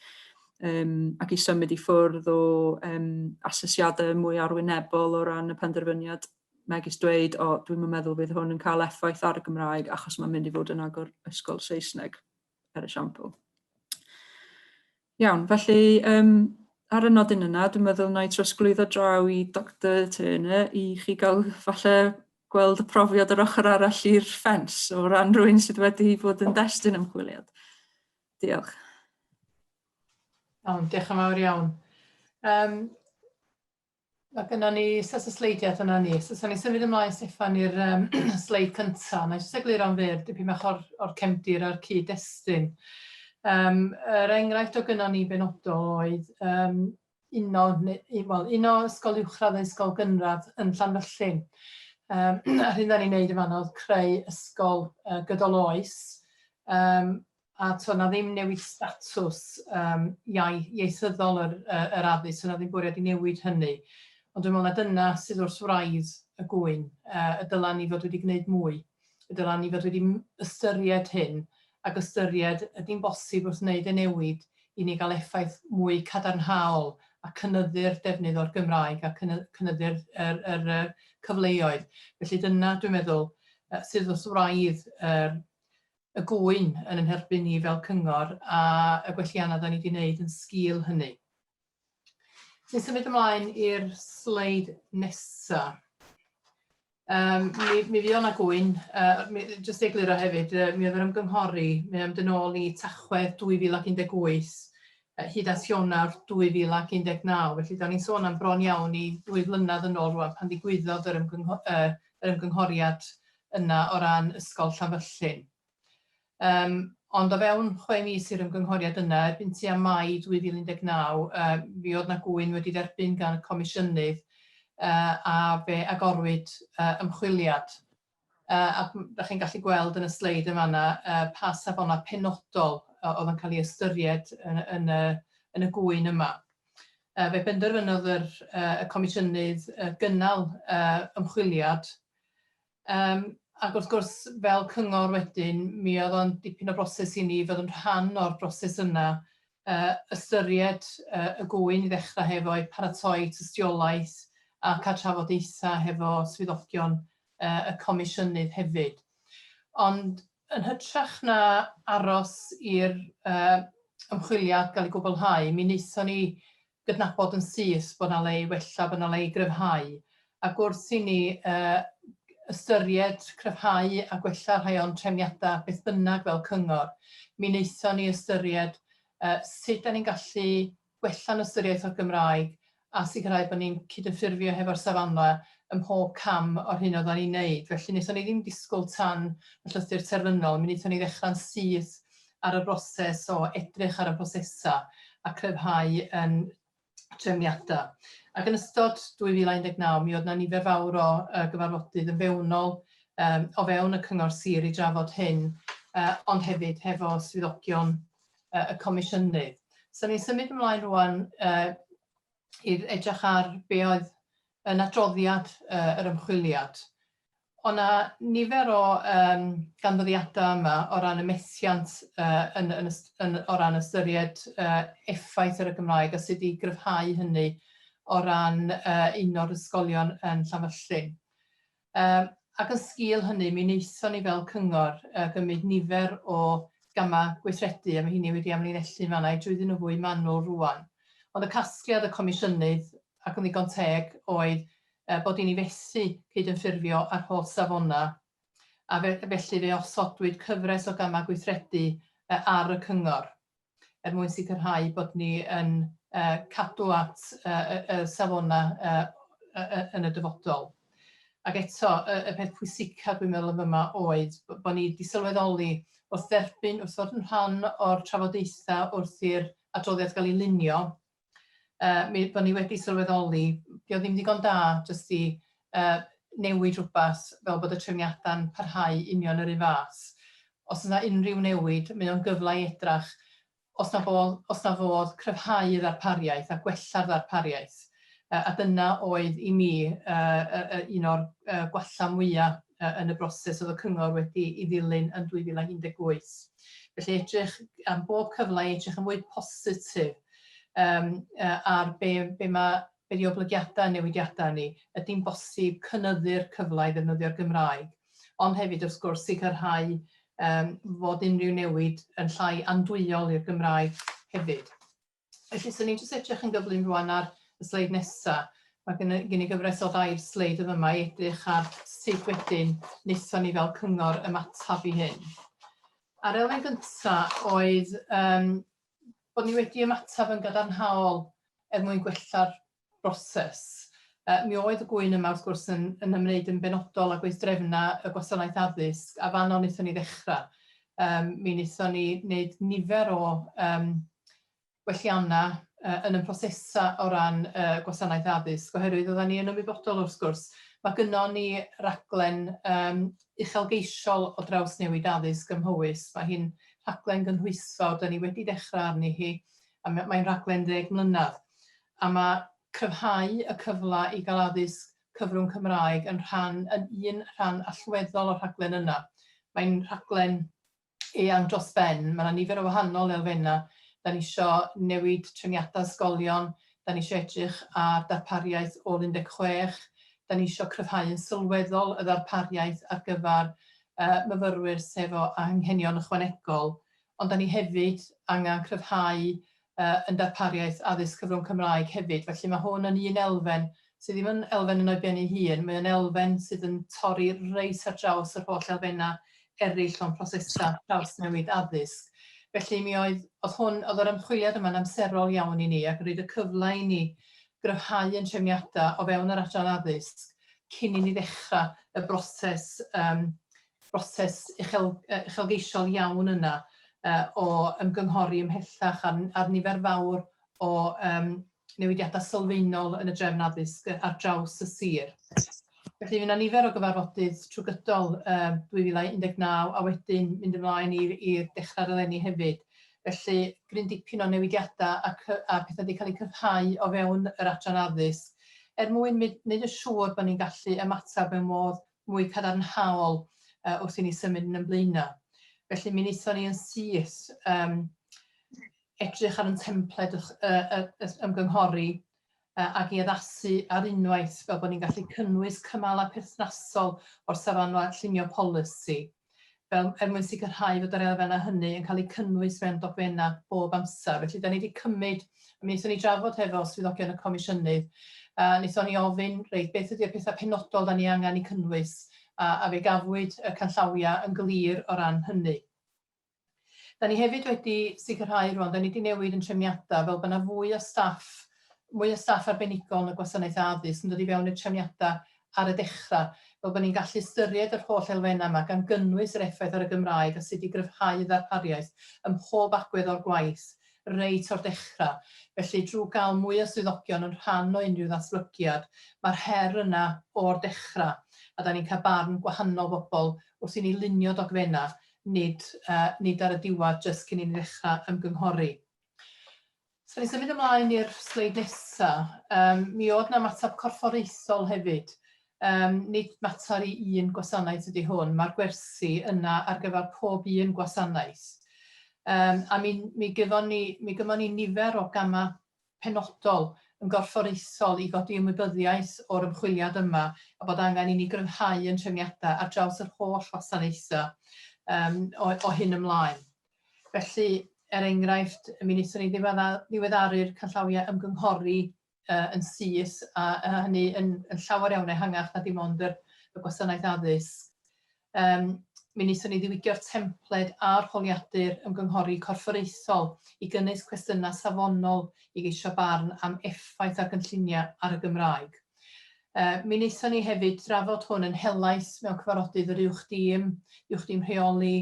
um, ac i symud i ffwrdd o um, asesiadau mwy arwynebol o ran y penderfyniad megis dweud, o, dwi'n meddwl fydd hwn yn cael effaith ar y Gymraeg achos mae'n mynd i fod yn agor ysgol Saesneg. er esiampl. Iawn, felly um, ar y nodyn yna, dwi'n meddwl na i trosglwyddo draw i Dr Turner i chi gael falle gweld y profiad yr ochr arall i'r ffens o ran rhywun sydd wedi bod yn destun ymchwiliad. Diolch. Iawn, diolch yn fawr iawn. Um, Mae gynnon ni set o sleidiau dyna ni. So, so ni symud ymlaen, Steffan, i'r um, sleid cyntaf. Mae'n jyst egluro am fyr dipyn bach o'r, or cefndir a'r cyd-destun. Um, yr enghraifft o gynnon ni benodol oedd um, uno, well, uno ysgol uwchradd a ysgol gynradd yn Llanfyllin. Um, a'r hyn da ni'n neud yma oedd creu ysgol uh, gydol oes um, a t'o' 'na ddim newid statws yym iau- ieithyddol yr yy yr addysg, so 'na ddim bwriad i newid hynny. Ond dwi me'wl na dyna sydd wrth wraidd y gŵyn, yy y dyla ni fod wedi gwneud mwy. Y dyla ni fod wedi m- ystyried hyn ac ystyried ydi'n bosib wrth wneud y newid i ni ga'l effaith mwy cadarnhaol a cynyddu'r defnydd o'r Gymraeg a cyny- cynyddu'r yr yr yy cyfleoedd. Felly dyna dwi'n meddwl yy sydd wrth wraidd yr y gŵyn yn yn herbyn ni fel cyngor a y gwelliannau da ni wedi wneud yn sgil hynny. Dwi'n symud ymlaen i'r sleid nesaf. Um, mi, mi fydd o'na gwy'n, uh, jyst ei egluro hefyd, uh, mi oedd yr ymgynghori, mi oedd yn ôl i Tachwedd 2018, uh, hyd at Ionawr 2019, felly da ni'n sôn am bron iawn i ddwy flynedd yn ôl rwan pan ddigwyddodd yr, ymgyngho uh, yr ymgynghoriad yna o ran Ysgol Llanfyllin. Yym, ond o fewn chwe mis i'r ymgynghoriad yna, erbyn tua Mai 2019, yy, mi oedd 'na gŵyn wedi dderbyn gan y Comisiynydd, yy, a fe agorwyd yy, ymchwiliad. Yy, a m- 'dach chi'n gallu gweld yn y sleid yn fan'na yy, pa safonau penodol yy oedd yn cael ei ystyried yn yn y yn y gŵyn yma. Yy, fe benderfynodd yr yy y Comisiynydd yy, gynnal yy, ymchwiliad Yym ac wrth gwrs fel cyngor wedyn mi oedd o'n dipyn o broses i ni fod yn rhan o'r broses yna, yy ystyried yy y gŵyn i ddechrau hefo i paratoi tystiolaeth a cael trafodaethau hefo swyddogion yy y comisiynydd hefyd. Ond Yn hytrach na aros i'r ymchwiliad gael ei gwblhau, mi wnaethon ni gydnabod yn syth bod 'na le i wella, bod 'na le i gryfhau, ac wrth i ni ystyried cryfhau a gwella rhai o'n trefniadau beth bynnag fel cyngor, mi wnaethon ni ystyried sut 'dan ni'n gallu gwella'n ystyriaeth o'r Gymraeg a sicrhau bod ni'n cydymffurfio hefo'r safana ym mhob cam o'r hyn oeddan ni'n neud. Felly, wnaethon ni ddim disgwyl tan y llythyr terfynol, mi wnaethon ni ddechrau'n syth ar y broses o edrych ar y prosesau a chryfhau ein trefniadau. Ac yn ystod 2019, mi oedd 'na nifer fawr o gyfarfodydd yn fewnol o fewn y Cyngor Sir i drafod hyn, ond hefyd hefo swyddogion uh, y comisiynydd. So ni'n symud ymlaen rwan uh, i edrych ar be oedd yn adroddiad uh, yr ymchwiliad. Ond na nifer o um, ganfyddiadau yma o ran y methiant uh, yn, yn, yn, o ran ystyried uh, effaith ar y Gymraeg a sut i gryfhau hynny o ran uh, un o'r ysgolion yn Llanfyllin. Yym ac yn sgîl hynny mi wnaethon ni fel cyngor yy gymryd nifer o gamau gweithredu a mae hynny wedi amlinellu fan'na i drwyddyn nhw fwy manwl rŵan. Ond y casgliad y Comisiynydd, ac yn ddigon teg, oedd yy bod i ni fethu cydymffurfio â'r holl safonau a fe- felly fe osodwyd cyfres o gamau gweithredu yy ar y cyngor. er mwyn sicrhau bod ni yn cadw at y safonau yn y dyfodol. Ac eto, y peth pwysica dwi'n meddwl yn fyma oedd bod ni wedi sylweddoli wrth dderbyn, wrth fod yn rhan o'r trafodaethau wrth i'r adroddiad gael ei lunio, uh, mi, bod ni wedi sylweddoli, di o ddim digon da jyst i uh, newid rhywbeth fel bod y trefniadau'n parhau union yr un fath. Os yna unrhyw newid, mae o'n gyfle i edrach os na fodd, os na fodd cryfhau ddarpariaeth a gwella'r ddarpariaeth. Uh, a dyna oedd i mi uh, uh, un o'r uh, gwella mwyaf uh, yn y broses oedd y cyngor wedi i ddilyn yn 2018. Felly edrych am bob cyfle i edrych yn fwy positif um, uh, ar be, be mae be di oblygiadau newidiadau ni, ydy'n bosib cynyddu'r cyfle i ddefnyddio'r Gymraeg, ond hefyd wrth gwrs sicrhau um, fod unrhyw newid yn llai andwyol i'r Gymraeg hefyd. Felly, swn i'n jyst edrych yn gyflym rwan ar y sleid nesaf. Mae gen i gyfres o ddair sleid yn yma i edrych ar sut wedyn wnaethon ni fel cyngor ymateb i hyn. A'r elfen gyntaf oedd um, bod ni wedi ymateb yn gadarnhaol er mwyn gwella'r broses. Uh, mi oedd y gwy'n yma wrth gwrs yn, yn ymwneud yn benodol â gweithdrefnau y gwasanaeth addysg a fanno wnaethon ni ddechrau. Um, mi wnaethon ni wneud nifer o um, gwelliannau uh, yn y prosesau o ran uh, gwasanaeth addysg oherwydd oedden ni yn ymwybodol wrth gwrs. Mae gynnon ni raglen um, uchelgeisiol o drawsnewid addysg ym Mhowys. Mae hi'n rhaglen gynhwysfawr, 'da ni wedi dechrau arni hi, a m- mae'n rhaglen ddeg mlynedd, a ma' cryfhau y cyfle i gael addysg cyfrwng Cymraeg yn rhan yn un rhan allweddol o'r rhaglen yna. Mae'n rhaglen eang dros ben. Mae 'na nifer o wahanol elfennau. Da ni isio newid trefniadau ysgolion, da ni isio edrych ar darpariaeth ôl 16, da ni isio cryfhau yn sylweddol y ddarpariaeth ar gyfer myfyrwyr sy' efo anghenion ychwanegol, ond da ni hefyd angen cryfhau yn darpariaeth addysg cyfrwng Cymraeg hefyd, felly mae hwn yn un elfen sydd ddim yn elfen yn o'i ben ei hun, mae o'n elfen sydd yn torri reit ar draws yr holl elfennau eraill o'n prosesau trawsnewid addysg. Felly mi oedd, oedd hwn, oedd yr ymchwiliad yma'n amserol iawn i ni ac yn rhaid y cyfle i ni gryfhau yn trefniadau o fewn yr adran addysg cyn i ni ddechrau y broses um, broses uchel, uh, uchelgeisiol iawn yna uh, o ymgynghori ymhellach ar, ar nifer fawr o um, newidiadau sylfaenol yn y drefn addysg ar draws y sir. Felly yna nifer o gyfarfodydd trwy gydol uh, 2019 a wedyn mynd ymlaen i'r dechrau'r eleni hefyd. Felly gryn dipyn o newidiadau a, a pethau wedi cael eu cyfhau o fewn yr adran addysg er mwyn wneud yn siŵr bod ni'n gallu ymateb mewn modd mwy cadarnhaol wrth i ni symud yn yn blaenau. Felly mi wnaethon ni yn syth um, edrych ar yn templed y, y, y, y ymgynghori uh, ag i addasu ar unwaith fel bod ni'n gallu cynnwys cymalau perthnasol o'r safanfa llunio polisi. fel, er mwyn sicrhau fod yr elfennau hynny yn cael eu cynnwys mewn dogfennau bob amser. Felly, da ni wedi cymryd, mi wnaethon ni drafod hefo swyddogion y Comisiynydd, a wnaethon ni ofyn, reit, beth ydy'r pethau penodol da ni angen eu cynnwys, a, a fe gafwyd y canllawiau yn glir o ran hynny. Da ni hefyd wedi sicrhau rwan, da ni wedi newid yn trefniadau fel bod yna fwy o staff, mwy o staff arbenigol yn y gwasanaeth addysg yn dod i fewn i'r trefniadau ar y dechrau, fel bod ni'n gallu ystyried yr holl elfennau yma, gan gynnwys yr effaith ar y Gymraeg a sut i gryfhau ddarpariaeth ym mhob agwedd o'r gwaith, reit o'r dechrau. Felly, drwy gael mwy o swyddogion yn rhan o unrhyw ddatblygiad, mae'r her yna o'r dechrau, a da ni'n cael barn gwahanol bobl wrth i ni lunio dogfennau nid nid ar y diwedd jyst cyn i ni ddechrau ymgynghori. So ni'n symud ymlaen i'r sleid nesa. Um, mi oedd na matab corfforaethol hefyd. Um, nid mater i un gwasanaeth ydy hwn, mae'r gwersi yna ar gyfer pob un gwasanaeth. Um, a mi, mi, gyfon ni, mi gyfon ni nifer o gamau penodol yn gorfforaethol i godi ymwybyddiaeth o'r ymchwiliad yma a bod angen i ni gryfhau ein trefniadau ar draws yr holl wasanaethau yym o o hyn ymlaen. Felly, er enghraifft, mi wnaethon ni ddiwedda- ddiweddaru'r canllawiau ymgynghori yy yn syth a a hynny yn yn llawer iawn ehangach na dim ond yr y gwasanaeth addysg. Yym, mi wnaethon ni ddiwygio'r templed a'r holiadur ymgynghori corfforaethol i gynnwys cwestiynau safonol i geisio barn am effaith ar gynlluniau ar y Gymraeg. Yy, mi wnaethon ni hefyd drafod hwn yn helaeth mewn cyfarfodydd yr Uwch Dîm, Uwch Dîm Rheoli,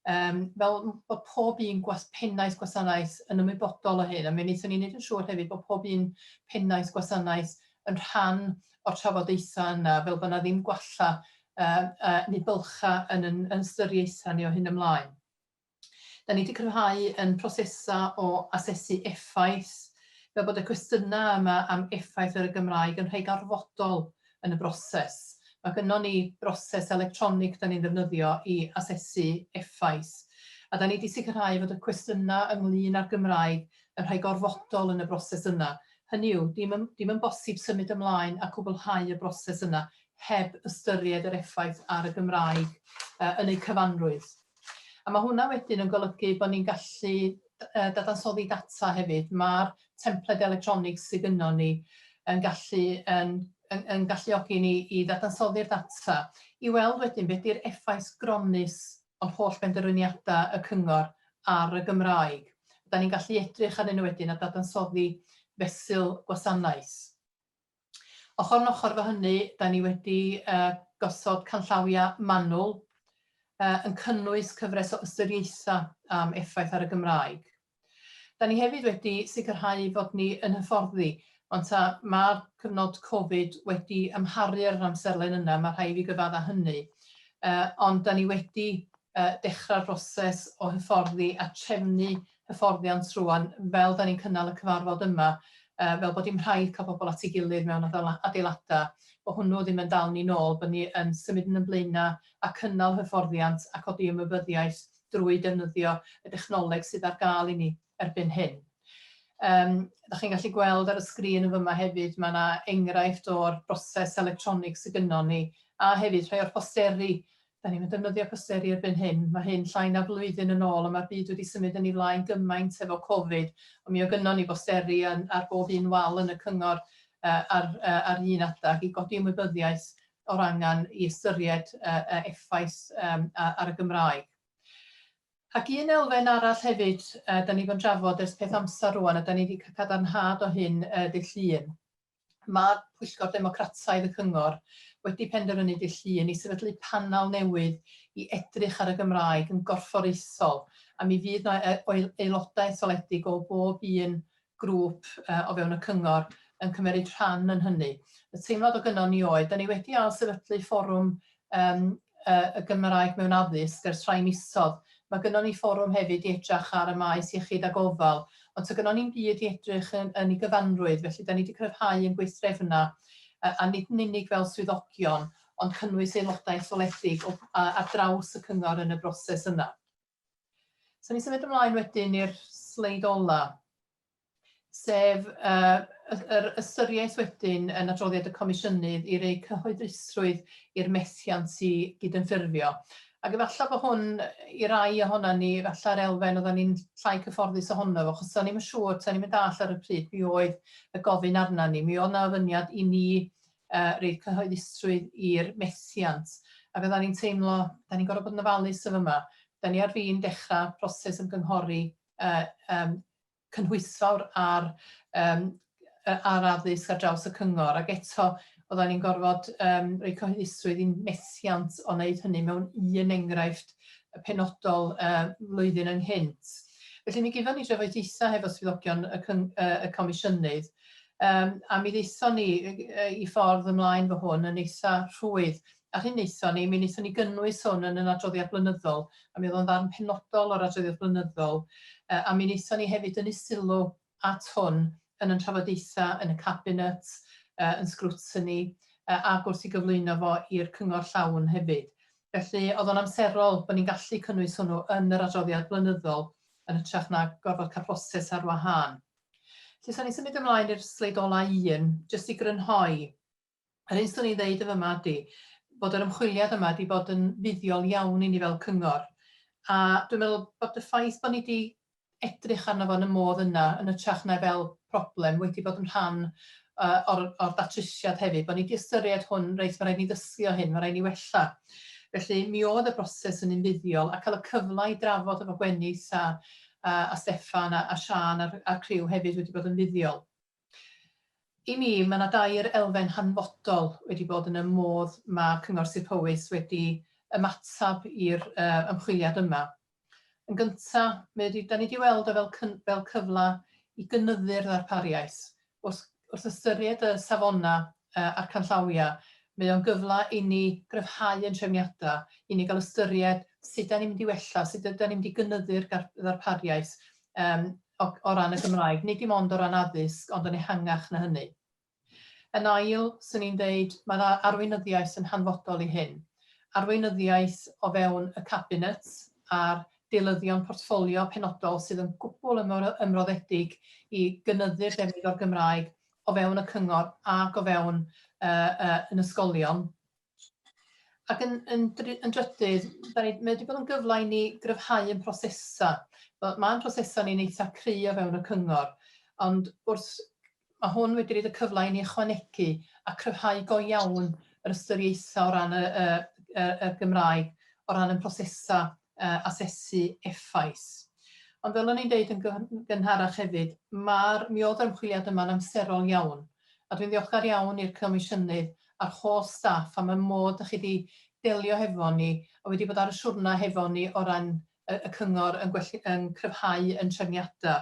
Yym, fel m- bod pob un gwas- pennaeth gwasanaeth yn ymwybodol o hyn, a mi wnaethon ni wneud yn siŵr hefyd bod pob un pennaeth gwasanaeth yn rhan o'r trafodaethau yna, fel bod 'na ddim gwalla yy yy neu bylchau yn yn yn ystyriaethau ni o hyn ymlaen. Da ni 'di cryfhau yn prosesau o asesu effaith, fel bod y cwestiynau yma am effaith ar y Gymraeg yn rhai gorfodol yn y broses. Mae gynnon ni broses electronig 'dan ni'n ddefnyddio i asesu effaith, a 'dan ni 'di sicrhau fod y cwestiyna' ynglŷn â'r Gymraeg yn rhai gorfodol yn y broses yna. Hynny yw, dim yn dim yn bosib symud ymlaen a cwblhau y broses yna heb ystyried yr effaith ar y Gymraeg yn eu cyfanrwydd. A mae hwnna wedyn yn golygu bod ni'n gallu dadansoddi data hefyd. Mae'r templed electronig sydd gynnon ni yn gallu yn yn yn galluogi ni i ddadansoddi'r data i weld wedyn beth ydy'r effaith gronnus o'r holl benderfyniadau y cyngor ar y Gymraeg. Da ni'n gallu edrych arnyn nhw wedyn a dadansoddi fesul gwasanaeth. Ochr yn ochr efo hynny, da ni wedi gosod canllawiau manwl yn cynnwys cyfres o ystyriaethau am effaith ar y Gymraeg. Da ni hefyd wedi sicrhau fod ni yn hyfforddi, ond ta mae'r cyfnod Covid wedi amharu ar yr amserlen yna, mae rhaid i fi gyfadda hynny, ond da ni wedi dechrau'r broses o hyfforddi a trefnu hyfforddiant rŵan fel 'da ni'n cynnal y cyfarfod yma, fel bod dim rhaid cael pobl at ei gilydd mewn adeiladau, bod hwnnw ddim yn dal ni'n ôl, bod ni yn symud yn ein blaenau a cynnal hyfforddiant a codi ymwybyddiaeth drwy defnyddio y dechnoleg sydd ar gael i ni erbyn hyn. Yym, 'da chi'n gallu gweld ar y sgrin yn fyma hefyd, mae yna enghraifft o'r broses electronig sydd gynnon ni, a hefyd rhai o'r posteri Da ni'm yn defnyddio posteri erbyn hyn. Mae hyn llai na flwyddyn yn ôl a mae'r byd wedi symud yn ei flaen gymaint efo Covid. Ond mi oedd gynnon ni bosteri yn ar bob un wal yn y cyngor ar ar un adag i godi ymwybyddiaeth o'r angen i ystyried y effaith ar y Gymraeg. Ac un elfen arall hefyd da ni 'di bod yn trafod ers peth amser rŵan a da ni 'di cael cadarnhad o hyn ddydd Llun. Mae Pwyllgor Democrataidd y Cyngor wedi penderfynu dydd Llun i sefydlu panel newydd i edrych ar y Gymraeg yn gorfforaethol a mi fydd 'na aelodau etholedig o bob un grŵp o fewn y Cyngor yn cymeryd rhan yn hynny. Y teimlad o gynnon ni oedd, 'da ni wedi ail-sefydlu fforwm yym yy y Gymraeg mewn addysg ers rhai misodd. Ma' gynnon ni fforwm hefyd i edrach ar y maes iechyd a gofal, ond ta' gynnon ni'm byd i edrych yn yn ei gyfanrwydd, felly 'dan ni 'di cryfhau yn gweithdrefna yy a nid yn unig fel swyddogion, ond cynnwys aelodau etholedig o a- ar draws y cyngor yn y broses yna. Sa ni'n symud ymlaen wedyn i'r sleid ola. sef yr ystyriaeth wedyn yn adroddiad y Comisiynydd i roi cyhoeddusrwydd i'r methiant i gydymffurfio. Ac efallai bod hwn i rai ohonan ni, efallai'r elfen oedden ni'n llai cyfforddus ohono fo, achos o'n ni'n yn siŵr, o'n ni'n mynd all ar y pryd, mi oedd y gofyn arna ni, mi oedd na ofyniad i ni uh, reid cyhoeddusrwydd i'r methiant. Ac oedden ni'n teimlo, da ni'n gorfod bod yn ofalus o fyma. Da ni ar fin dechrau proses ymgynghori uh, um, cynhwysfawr ar yym yy ar addysg ar draws y cyngor ac eto oeddan ni'n gorfod yym roi cyhoeddusrwydd i'n methiant o wneud hynny mewn un enghraifft penodol yy flwyddyn ynghynt. Felly mi gefon ni drafodaethau hefo swyddogion y cyng- yy y comisiynydd yym a mi ddaethon ni yy i ffordd ymlaen fo hwn yn eitha rhwydd A'r hyn wnaethon ni, mi wnaethon ni gynnwys hwn yn yn adroddiad blynyddol, a mi oedd o'n ddarn penodol o'r adroddiad blynyddol, a mi wnaethon ni hefyd dynnu sylw at hwn yn yn trafodaethau yn y Cabinet, yn Scrutiny, ac wrth i gyflwyno fo i'r Cyngor llawn hefyd. Felly, oedd o'n amserol bod ni'n gallu cynnwys hwnnw yn yr adroddiad blynyddol yn hytrach na gorfod cael proses ar wahân. Felly, os awn ni'n symud ymlaen i'r sleid ola' un, jyst i grynhoi, Yr hyn 'swn i'n ddeud yn fama ydi bod yr ymchwiliad yma 'di bod yn fuddiol iawn i ni fel cyngor, a dwi'n meddwl bod y ffaith bod ni 'di edrych arno fo yn y modd yna, yn ytrach na fel problem, wedi bod yn rhan yy o'r o'r datrysiad hefyd, bod ni 'di ystyried hwn, reit, ma' raid ni ddysgu o hyn, ma' raid ni wella. Felly mi o'dd y broses yn un fuddiol, a ca'l y cyfla i drafod efo Gwenith a a a Steffan a a Siân a'r a'r criw hefyd wedi bod yn fuddiol. I mi, mae yna dair elfen hanfodol wedi bod yn y modd mae Cyngor Sir Powys wedi ymateb i'r ymchwiliad yma. Yn gyntaf, mae wedi... dan ni wedi weld o fel cyn- fel cyfle i gynyddu'r ddarpariaeth. Wrth wrth ystyried y safonau a'r canllawiau, mae o'n gyfle i ni gryfhau ein trefniadau, i ni gael ystyried sut dan ni'n mynd i wella, sut ydan ni'n mynd i gynyddu'r ddarpariaeth, o o ran y Gymraeg, nid dim ond o ran addysg, ond yn ehangach na hynny. Yn ail, 'swn i'n deud, mae'r a- arweinyddiaeth yn hanfodol i hyn. Arweinyddiaeth o fewn y Cabinet a'r deilyddion portffolio penodol sydd yn gwbl ymro- ymroddedig i gynyddu'r defnydd o'r Gymraeg o fewn y Cyngor ac o fewn yy yy yn ysgolion. Ac yn, yn, yn drydydd, da ni, mae wedi bod yn gyfle i ni gryfhau yn prosesau. Mae'n prosesau ni'n eitha cry o fewn y cyngor, ond wrth mae hwn wedi rhaid y cyfle i ni ychwanegu a cryfhau go iawn yr ystyriaethau o ran y, y, y, y Gymraeg, o ran y prosesau uh, asesu effaith. Ond fel o'n i'n deud yn gynharach hefyd, mae'r mi oedd yr ymchwiliad yma'n amserol iawn, a dwi'n ddiolchgar iawn i'r Comisiynydd a'r holl staff am y modd dach chi 'di delio hefo ni a wedi bod ar y siwrna hefo ni o ran y y cyngor yn gwell- yn cryfhau 'yn trefniada.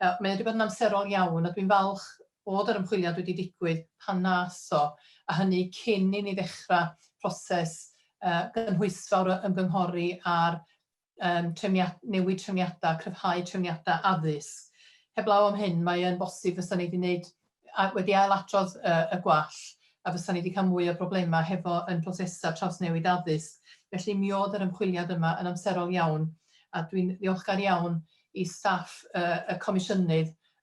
Yy mae o 'di bod yn amserol iawn a dwi'n falch bod yr ymchwiliad wedi digwydd pan nath o, a hynny cyn i ni ddechra proses yy gynhwysfawr o ymgynghori ar newid trefniadau, cryfhau trefniadau addysg. Heblaw am hyn, mae yn bosib fysa ni wedi wneud, wedi ail-adrodd y gwall, a fysa ni wedi cael mwy o broblemau hefo yn prosesau trawsnewid addysg. Felly mi oedd yr ymchwiliad yma yn amserol iawn, a dwi'n ddiolchgar iawn i staff y Comisiynydd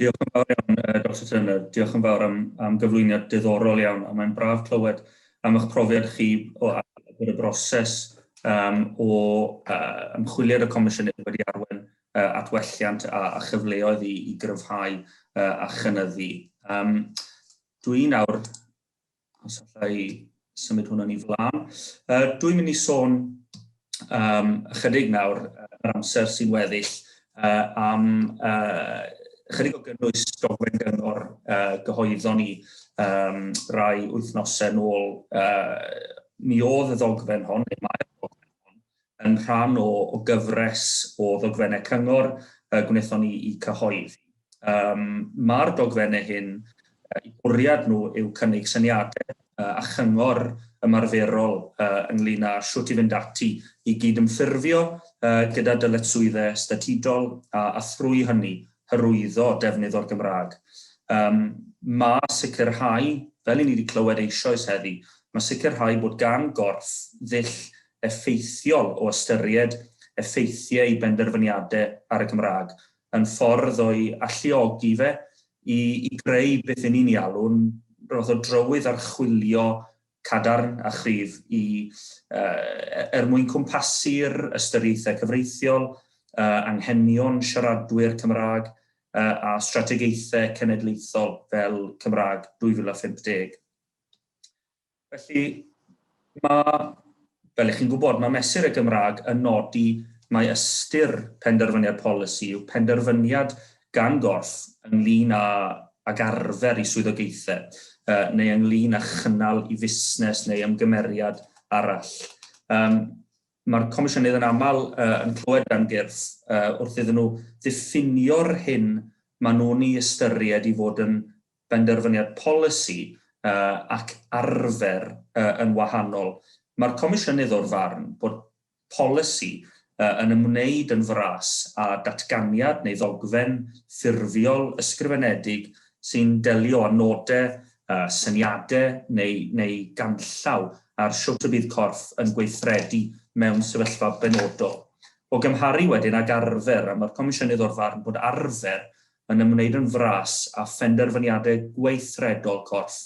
Diolch yn fawr iawn, uh, Dr Turner. Diolch yn fawr am, am gyflwyniad diddorol iawn, a mae'n braf clywed am eich profiad chi o agor y broses um, o uh, ymchwiliad y Comisiynydd wedi arwen uh, at welliant a, a chyfleoedd i, i gryfhau uh, a chynyddu. Um, Dwi'n awr Os allai symud hwnna'n i flaen. Uh, dwi'n mynd i sôn um, ychydig nawr yr amser sy'n weddill uh, am uh, ychydig o gynnwys dogfen gyngor uh, gyhoeddon ni um, rai wythnosau nôl. Uh, mi oedd y ddogfen hon, neu mae'r ddogfen hon, yn rhan o o gyfres o ddogfennau cyngor y gwnaethon ni i cyhoeddi. Ym Mae'r dogfennau hyn, eu bwriad nhw yw cynnig syniadau a chyngor ymarferol ynglŷn â shwt i fynd ati i gydymffurfio gyda dyletswyddau statudol a a thrwy hynny hyrwyddo defnydd o'r Gymraeg. Ym Mae sicrhau, fel i ni wedi clywed eisoes heddi, mae sicrhau bod gan gorff ddull effeithiol o ystyried effeithiau ei benderfyniadau ar y Gymraeg yn ffordd o'i alluogi fe i i greu beth y'n ni'n ei alw'n rhywfath o drywydd archwilio cadarn a chryf i yy er mwyn cwmpasu'r ystyriaethau cyfreithiol, yy anghenion siaradwyr Cymraeg yy a strategaethau cenedlaethol fel Cymraeg 2050. Felly, mae, fel ych chi'n gwybod, mae Mesur y Gymraeg yn nodi mai ystyr penderfyniad polisi yw penderfyniad gan gorff ynglŷn â, ag arfer, i swyddogaethau, neu ynglŷn â chynnal i fusnes neu ymgymeriad arall. Um, Mae'r Comisiynydd yn aml uh, yn clywed gan gyrff uh, wrth iddyn nhw ddiffinio'r hyn maen nhw'n ei ystyried i fod yn benderfyniad polisi ac arfer yn wahanol, mae'r Comisiynydd o'r farn bod polisi yn ymwneud yn fras â datganiad neu ddogfen ffurfiol ysgrifenedig sy'n delio â nodau, syniadau neu neu ganllaw ar shwt y bydd corff yn gweithredu mewn sefyllfa benodol. O gymharu wedyn ag arfer, a mae'r Comisiynydd o'r farn bod arfer yn ymwneud yn fras â phenderfyniadau gweithredol corff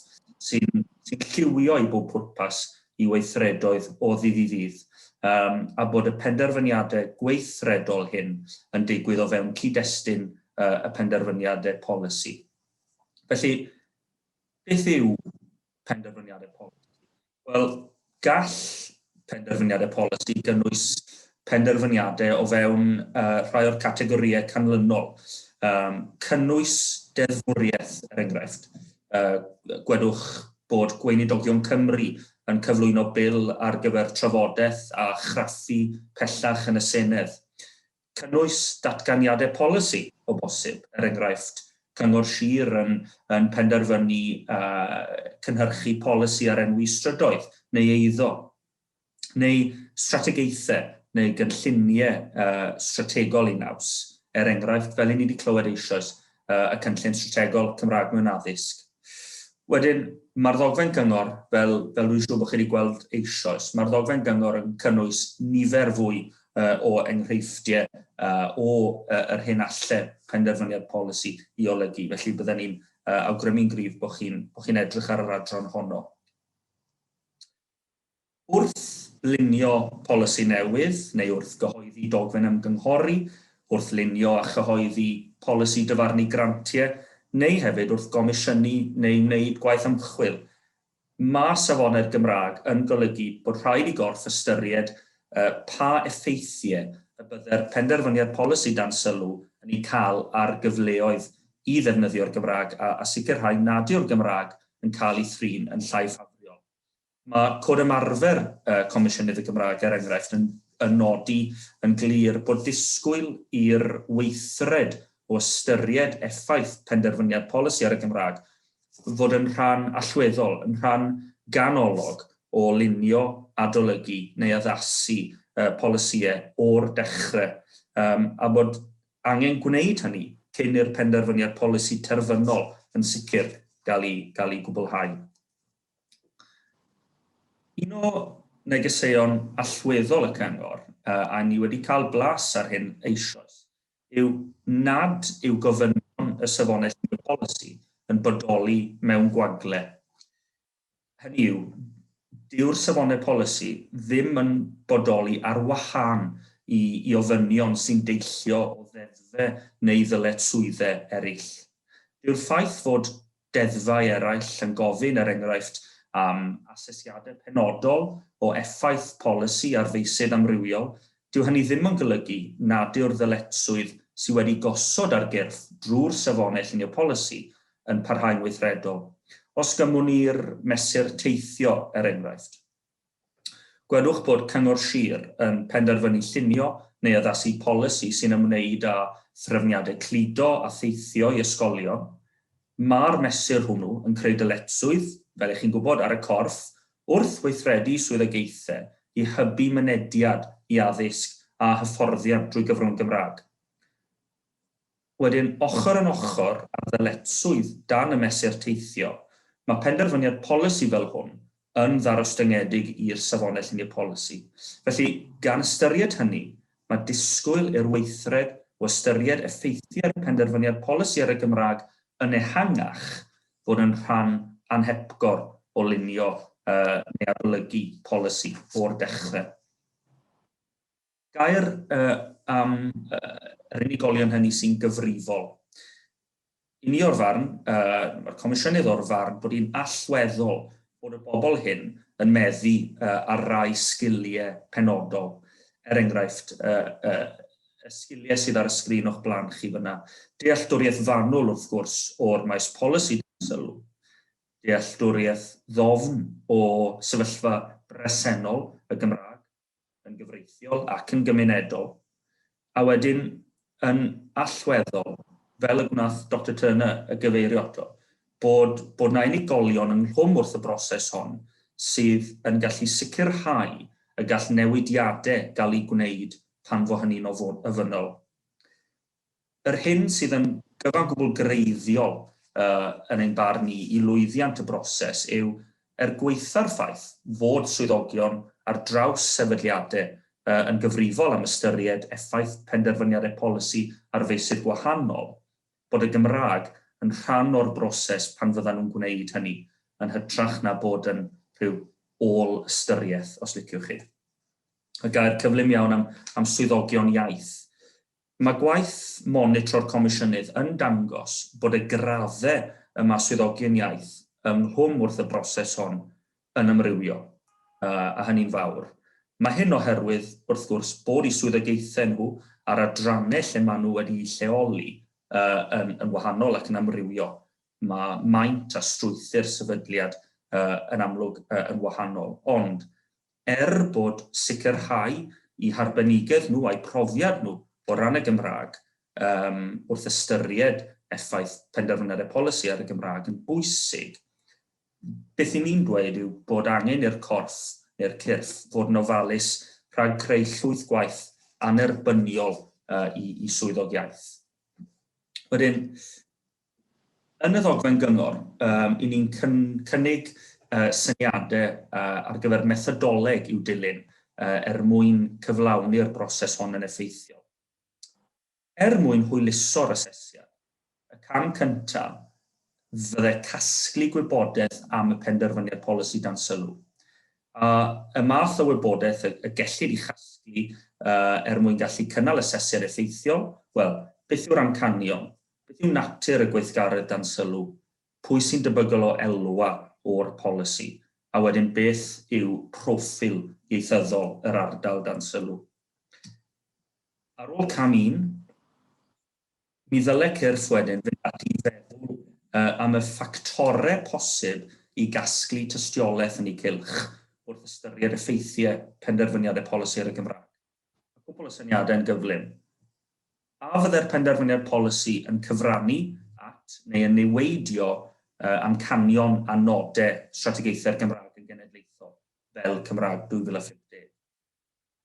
sy'n sy'n lliwio i bob pwrpas i weithredoedd o ddydd i ddydd, yym, a bod y penderfyniadau gweithredol hyn yn digwydd o fewn cyd-destun yy y penderfyniadau polisi. Felly, beth yw penderfyniadau polisi? Wel, gall penderfyniadau polisi gynnwys penderfyniadau o fewn uh, rhai o'r categorïau canlynol. Um, cynnwys deddfwriaeth, er enghraifft. Uh, gwedwch bod Gweinidogion Cymru yn cyflwyno bil ar gyfer trafodaeth a chraffu pellach yn y Senedd. Cynnwys datganiadau polisi, o bosib, er enghraifft, Cyngor Sir yn yn penderfynu cynhyrchu polisi ar enwi strydoedd neu eiddo, neu strategaethau neu gynlluniau strategol eu naws, er enghraifft, fel 'yn ni wedi clywed eisoes, uh, y Cynllun Strategol Cymraeg mewn Addysg. Wedyn, mae'r ddogfen gyngor, fel, fel rwy'n siŵr bod chi wedi gweld eisoes, mae'r ddogfen gyngor yn cynnwys nifer fwy uh, o enghreifftiau uh, o uh, yr hyn alle penderfyniad polisi i olygu. Felly byddwn ni'n uh, awgrymu'n gryf bod chi'n chi edrych ar yr adran honno. Wrth lunio polisi newydd neu wrth gyhoeddi dogfen ymgynghori, wrth lunio a chyhoeddi polisi dyfarnu grantiau neu hefyd wrth gomisiynu neu wneud gwaith ymchwil. Mae safonau'r Gymraeg yn golygu bod rhaid i gorff ystyried pa effeithiau y bydde'r penderfyniad polisi dan sylw yn eu cael ar gyfleoedd i ddefnyddio'r Gymraeg a sicrhau nad yw'r Gymraeg yn cael ei thrin yn llai ffafriol Mae Cod Ymarfer y Comisiynydd y Gymraeg, er enghraifft, yn nodi yn glir bod disgwyl i'r weithred o ystyried effaith penderfyniad polisi ar y Gymraeg fod yn rhan allweddol, yn rhan ganolog o lunio, adolygu neu addasu polisïau o'r dechrau, a bod angen gwneud hynny cyn i'r penderfyniad polisi terfynol yn sicr gael ei gwblhau. Un o negeseuon allweddol y Cyngor, a ni wedi cael blas ar hyn eisoes, yw nad yw gofynion y Safonau Llunio Polisi yn bodoli mewn gwagle. Hynny yw, dyw'r Safonau Polisi ddim yn bodoli ar wahân i i ofynion sy'n deillio o ddeddfau neu ddyletswyddau eraill. Dyw'r ffaith fod Deddfau eraill yn gofyn, er enghraifft, am asesiadau penodol o effaith polisi ar feysydd amrywiol, dyw hynny ddim yn golygu nad yw'r ddyletswydd sydd wedi gosod ar gyrff drwy'r Safonau Llunio Polisi yn parhau'n weithredol. Os gymwn i'r mesur teithio, er enghraifft, Gwedwch bod Cyngor Sir yn penderfynu llunio neu addasu polisi sy'n ymwneud â threfniadau cludo a theithio i ysgolion. Mae'r mesur hwnnw yn creu dyletswydd, fel y'ch chi'n gwybod, ar y corff wrth weithredu swyddogaethau i hybu mynediad i addysg a hyfforddiant drwy gyfrwng y Gymraeg. Wedyn, ochr yn ochr â'r ddyletswydd dan y Mesur Teithio, mae penderfyniad polisi fel hwn yn ddarostyngedig i'r Safonau Llunio Polisi. Felly, gan ystyried hynny, mae disgwyl i'r weithred o ystyried effeithiau'r penderfyniad polisi ar y Gymraeg yn ehangach fod yn rhan anhepgor o lunio neu adolygu polisi o'r dechrau. Gair uh, am uh, yr unigolion hynny sy'n gyfrifol. I ni o'r farn, uh, mae'r Comisiynydd o'r farn bod hi'n allweddol bod y bobl hyn yn meddu uh, ar rai sgiliau penodol. Er enghraifft, uh, uh, y sgiliau sydd ar y sgrin o'ch blaen chi fyna. Dealltwriaeth fanwl, wrth gwrs, o'r maes polisi sylw. Dealltwriaeth ddofn o sefyllfa bresennol y Gymraeg yn gyfreithiol ac yn gymunedol, a wedyn yn allweddol, fel y gwnaeth Doctor Turner y gyfeirio ato, bod bod 'na unigolion ynghlwm wrth y broses hon sydd yn gallu sicrhau y gall newidiadau gael eu gwneud pan fo hynny'n ofynnol. Yr hyn sydd yn gyfan gwbl greiddiol, yn ein barn ni, i lwyddiant y broses yw, er gwaetha'r ffaith fod swyddogion ar draws sefydliadau yn gyfrifol am ystyried effaith penderfyniadau polisi ar feysydd gwahanol, bod y Gymraeg yn rhan o'r broses pan fyddan nhw'n gwneud hynny, yn hytrach na bod yn rhyw ôl-ystyriaeth, os liciwch chi. Y gair cyflym iawn am swyddogion iaith. Mae gwaith monitro'r Comisiynydd yn dangos bod y graddau y mae swyddogion iaith yng Nghwm wrth y broses hon yn amrywio, a hynny'n fawr. Mae hyn oherwydd, wrth gwrs, bod eu swyddogaethau nhw a'r adrannau lle maen nhw wedi'u lleoli yn wahanol ac yn amrywio. Mae maint a strwythur sefydliad yn amlwg yn wahanol. Ond, Er bod sicrhau eu harbenigedd nhw a'u profiad nhw o ran y Gymraeg wrth ystyried effaith penderfynedd y polisi ar y Gymraeg yn bwysig, beth 'y ni'n dweud yw bod angen i'r corff, neu'r cyrff, fod yn ofalus rhag creu llwyth gwaith annerbyniol i swyddog iaith. Wedyn, Yn y ddogfen gyngor, i ni'n cynnig syniadau ar gyfer methodoleg i'w dilyn er mwyn cyflawni'r broses hon yn effeithiol. Er mwyn hwyluso'r asesiad, y cam cyntaf fydde casglu gwybodaeth am y penderfyniad polisi dan sylw, a y math o wybodaeth y gellid ei chasglu er mwyn gallu cynnal asesiad effeithiol, wel, beth yw'r amcanion, Beth yw natur y gweithgaredd dan sylw, pwy sy'n debygol o elwa o'r polisi, a wedyn beth yw proffil ieithyddol yr ardal dan sylw. Ar ôl cam un, mi ddyle cyrff wedyn fynd ati i feddwl am y ffactorau posib i gasglu tystiolaeth yn eu cylch wrth ystyried effeithiau penderfyniadau polisi ar y Gymraeg. A cwpl o syniadau yn gyflym. A fyddai'r penderfyniad polisi yn cyfrannu at neu yn niweidio amcanion a nodau Strategaethau'r Gymraeg yn Genedlaethol, fel Cymraeg 2050?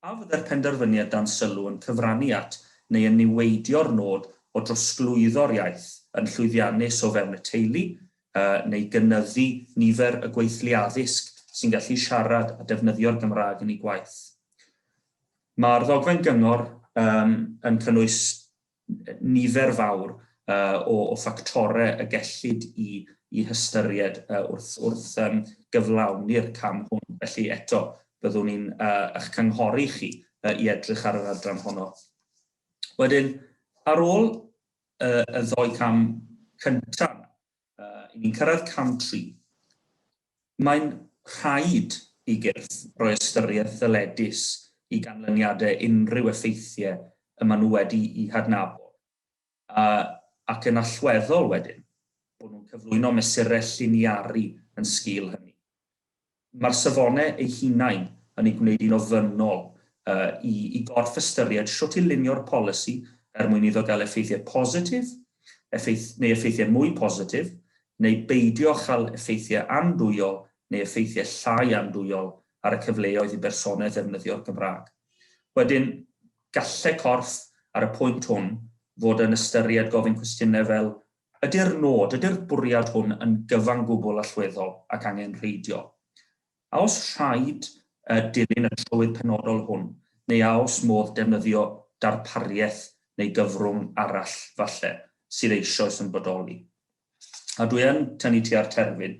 A fyddai'r penderfyniad dan sylw yn cyfrannu at neu yn niweidio'r nod o drosglwyddo'r iaith yn llwyddiannus o fewn y teulu, neu gynyddu nifer y gweithlu addysg sy'n gallu siarad a defnyddio'r Gymraeg yn eu gwaith. Mae'r ddogfen gyngor um, yn cynnwys nifer fawr uh, o, o ffactorau y gellid i, i hystyried uh, wrth, wrth um, gyflawni'r cam hwn. Felly eto, byddwn ni'n uh, eich cynghori chi uh, i edrych ar yr adran honno. Wedyn, ar ôl y ddou cam cynta', i ni'n cyrraedd cam tri. Mae'n rhaid i gyrff roi ystyriaeth ddyledus i ganlyniadau unrhyw effeithiau y maen nhw wedi'u hadnabod, ac yn allweddol wedyn, bod nhw'n cyflwyno mesurau lliniaru yn sgil hynny. Mae'r safonau eu hunain yn ei gwneud hi'n ofynnol i i gorff ystyried shwt i lunio'r polisi er mwyn iddo gael effeithiau positif, effaith- neu effeithiau mwy positif, neu beidio â chael effeithiau andwyol neu effeithiau llai andwyol ar y cyfleoedd i bersonau ddefnyddio'r Gymraeg. Wedyn, gallai corff ar y pwynt hwn fod yn ystyried gofyn cwestiynau fel Ydy'r nod, ydy'r bwriad hwn yn gyfan gwbl allweddol ac angenrheidiol? A oes rhaid dilyn y trywydd penodol hwn, neu a oes modd defnyddio darpariaeth neu gyfrwng arall, falle, sydd eisoes yn bodoli? A dwi yn tynnu tua'r terfyn.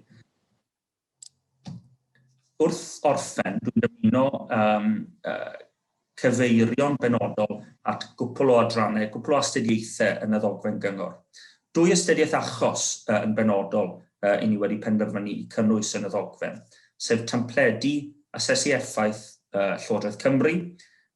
Wrth orffen, dwi'n dymuno um, uh, cyfeirio'n benodol at gwpl o adrannau, gwpl o astudiaethau yn y ddogfen gyngor. Dwy astudiaeth achos uh, yn benodol uh, i ni wedi penderfynu i cynnwys yn y ddogfen, sef templedi asesu effaith uh, Llywodraeth Cymru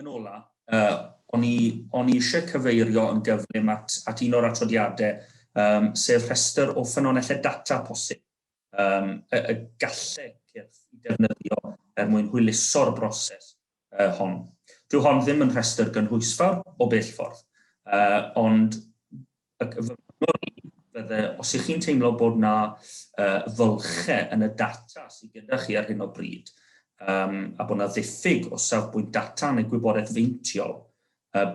Yn ola, yy, o'n i, o'n i isie cyfeirio yn gyflym at, at un o'r atodiade, yym, sef rhestr o ffynonelle data posib, yym, y, y galle cyrff i defnyddio er mwyn hwyluso'r broses, yy, hon. Dyw hon ddim yn rhestr gynhwysfawr, o bell ffordd, yy, ond Ac fy marn i, fydde, os ych chi'n teimlo bod 'na fylche yn y data sy gyda chi ar hyn o bryd, a bod 'na ddiffyg o safbwynt data neu gwybodaeth feintiol,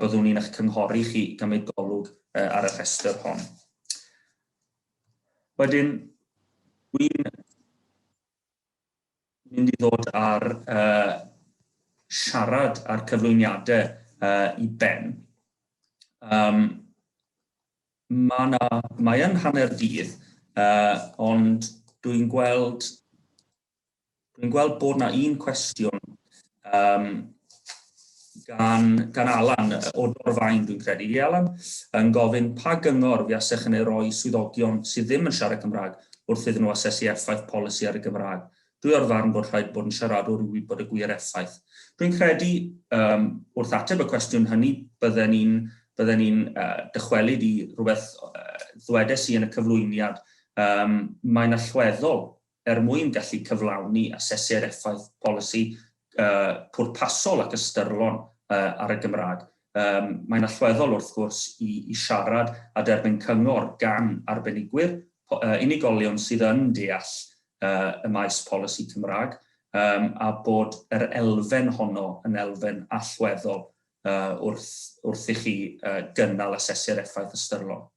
byddwn i'n eich cynghori chi i gymryd golwg ar y rhestr hon. Wedyn, dwi'n mynd i ddod a'r uh, siarad a'r cyflwyniadau uh, i ben. Um, mae na, mae yn hanner dydd, uh, ond dwi'n gweld, dwi'n gweld bod na un cwestiwn um, gan, gan Alan o Dorfaen, dwi'n credu, i Alan, yn gofyn pa gyngor fiasech yn ei roi swyddogion sydd ddim yn siarad Cymraeg wrth iddyn nhw asesu effaith polisi ar y Gymraeg. Dwi o'r farn bod rhaid bod yn siaradwr i wybod y gwir effaith. Dwi'n credu, um, wrth ateb y cwestiwn hynny, bydden ni'n bydden ni'n uh, dychwelyd i rhywbeth uh, ddwedes i yn y cyflwyniad. Um, mae'n allweddol Er mwyn gallu cyflawni a sesur effaith polisi pwrpasol ac ystyrlon ar y Gymraeg, mae'n allweddol wrth gwrs i siarad a derbyn cyngor gan arbenigwyr, unigolion sydd yn deall y maes polisi Cymraeg, a bod yr elfen honno yn elfen allweddol wrth i chi gynnal a sesur effaith ystyrlon.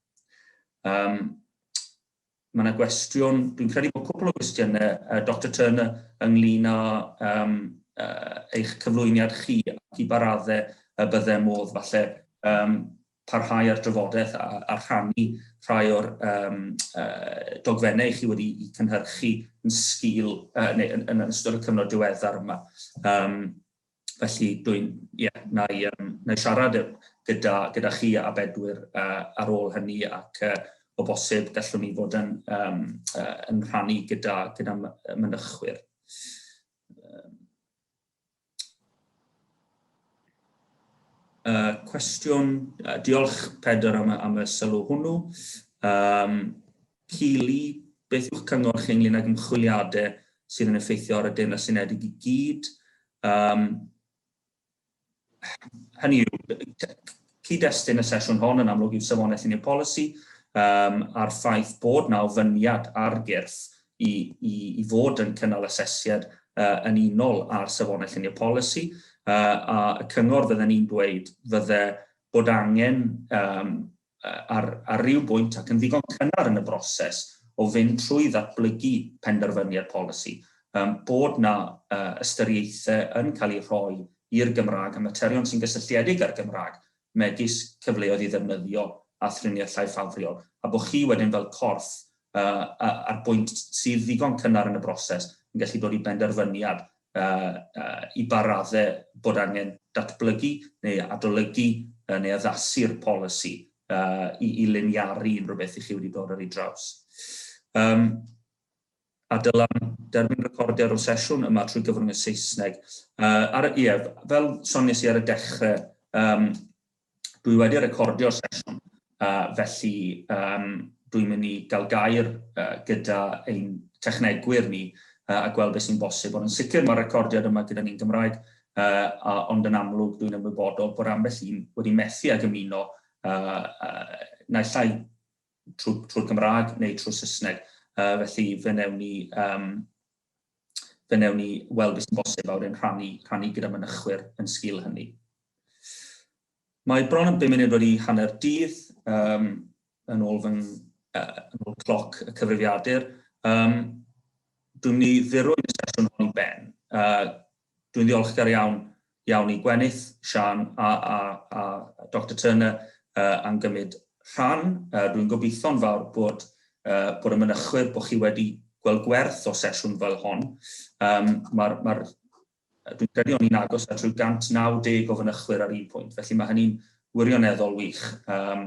Mae yna gwestiwn, dwi'n credu bod cwpl o gwestiynau, uh, Dr Turner, ynglyn â um, uh, eich cyflwyniad chi ac i baradde y bydde modd falle um, parhau ar drafodaeth a, a rhannu rhai o'r um, uh, dogfennau chi wedi i cynhyrchu yn sgil, uh, neu yn, yn ystod y cyfnod diweddar yma. Um, felly dwi'n, ie, na i, um, na i siarad gyda, gyda chi a bedwyr uh, ar ôl hynny ac uh, o bosib gallwn ni fod yn, um, uh, yn rhannu gyda, gyda mynychwyr. Uh, cwestiwn, uh, diolch Pedr am, am y sylw hwnnw. Um, Keeley, beth yw'ch cyngor chi ynglŷn ag ymchwiliadau sydd yn effeithio ar y Deyrnas Unedig i gyd? Um, hynny yw, cyd-destun y sesiwn hon yn amlwg yw safonaeth unio polisi um, a'r ffaith bod na ofyniad ar gyrff i, i, i fod yn cynnal asesiad uh, yn unol ar safonau llunio polisi, uh, a y cyngor fydden ni'n dweud fydde bod angen um, ar, ar ryw bwynt ac yn ddigon cynnar yn y broses o fynd trwy ddatblygu penderfyniad polisi, um, bod na uh, ystyriaethau yn cael eu rhoi i'r Gymraeg a materion sy'n gysylltiedig â'r Gymraeg, megis cyfleoedd i ddefnyddio a thriniaeth llai ffafriol, a bod chi wedyn fel corff uh, a'r bwynt sydd ddigon cynnar yn y broses yn gallu dod i benderfyniad i ba raddau bod angen datblygu neu adolygu neu addasu'r polisi i liniaru unrhyw beth i chi wedi dod ar ei draws. A dyla'n derbyn recordiad o'r sesiwn yma trwy gyfrwng y Saesneg. Ie, fel soniais i ar y dechrau, Dwi wedi recordio'r sesiwn, felly dwi'n mynd i gael gair gyda ein technegwyr ni a gweld beth sy'n bosib, ond yn sicr mae'r recordiad yma gyda ni'n Gymraeg, ond yn amlwg dwi'n ymwybodol bod ambell un wedi methu ag ymuno naill ai trwy'r Gymraeg neu trwy'r Saesneg, felly fe wnewn ni fe wnewn ni weld beth sy'n bosib a wedyn rhannu, rhannu gyda mynychwyr yn sgil hynny. Mae bron yn 5 munud wedi hanner dydd um, yn ôl fy uh, yn ôl cloc y cyfrifiadur. Um, dwi'n mynd i ddirwyn y sesiwn hon i ben. Uh, Dwi'n ddiolchgar iawn, iawn i Gwenith, Siân a, a, a Doctor Turner uh, am gymryd rhan. Uh, Rwy'n gobeithio'n fawr bod, uh, bod y mynychwyr bod chi wedi gweld gwerth o sesiwn fel hon. Um, Mae'r ma Dwi'n credu o'n i'n agos at rhyw 190 o fynychwyr ar un pwynt, felly mae hynny'n wirioneddol wych. Um,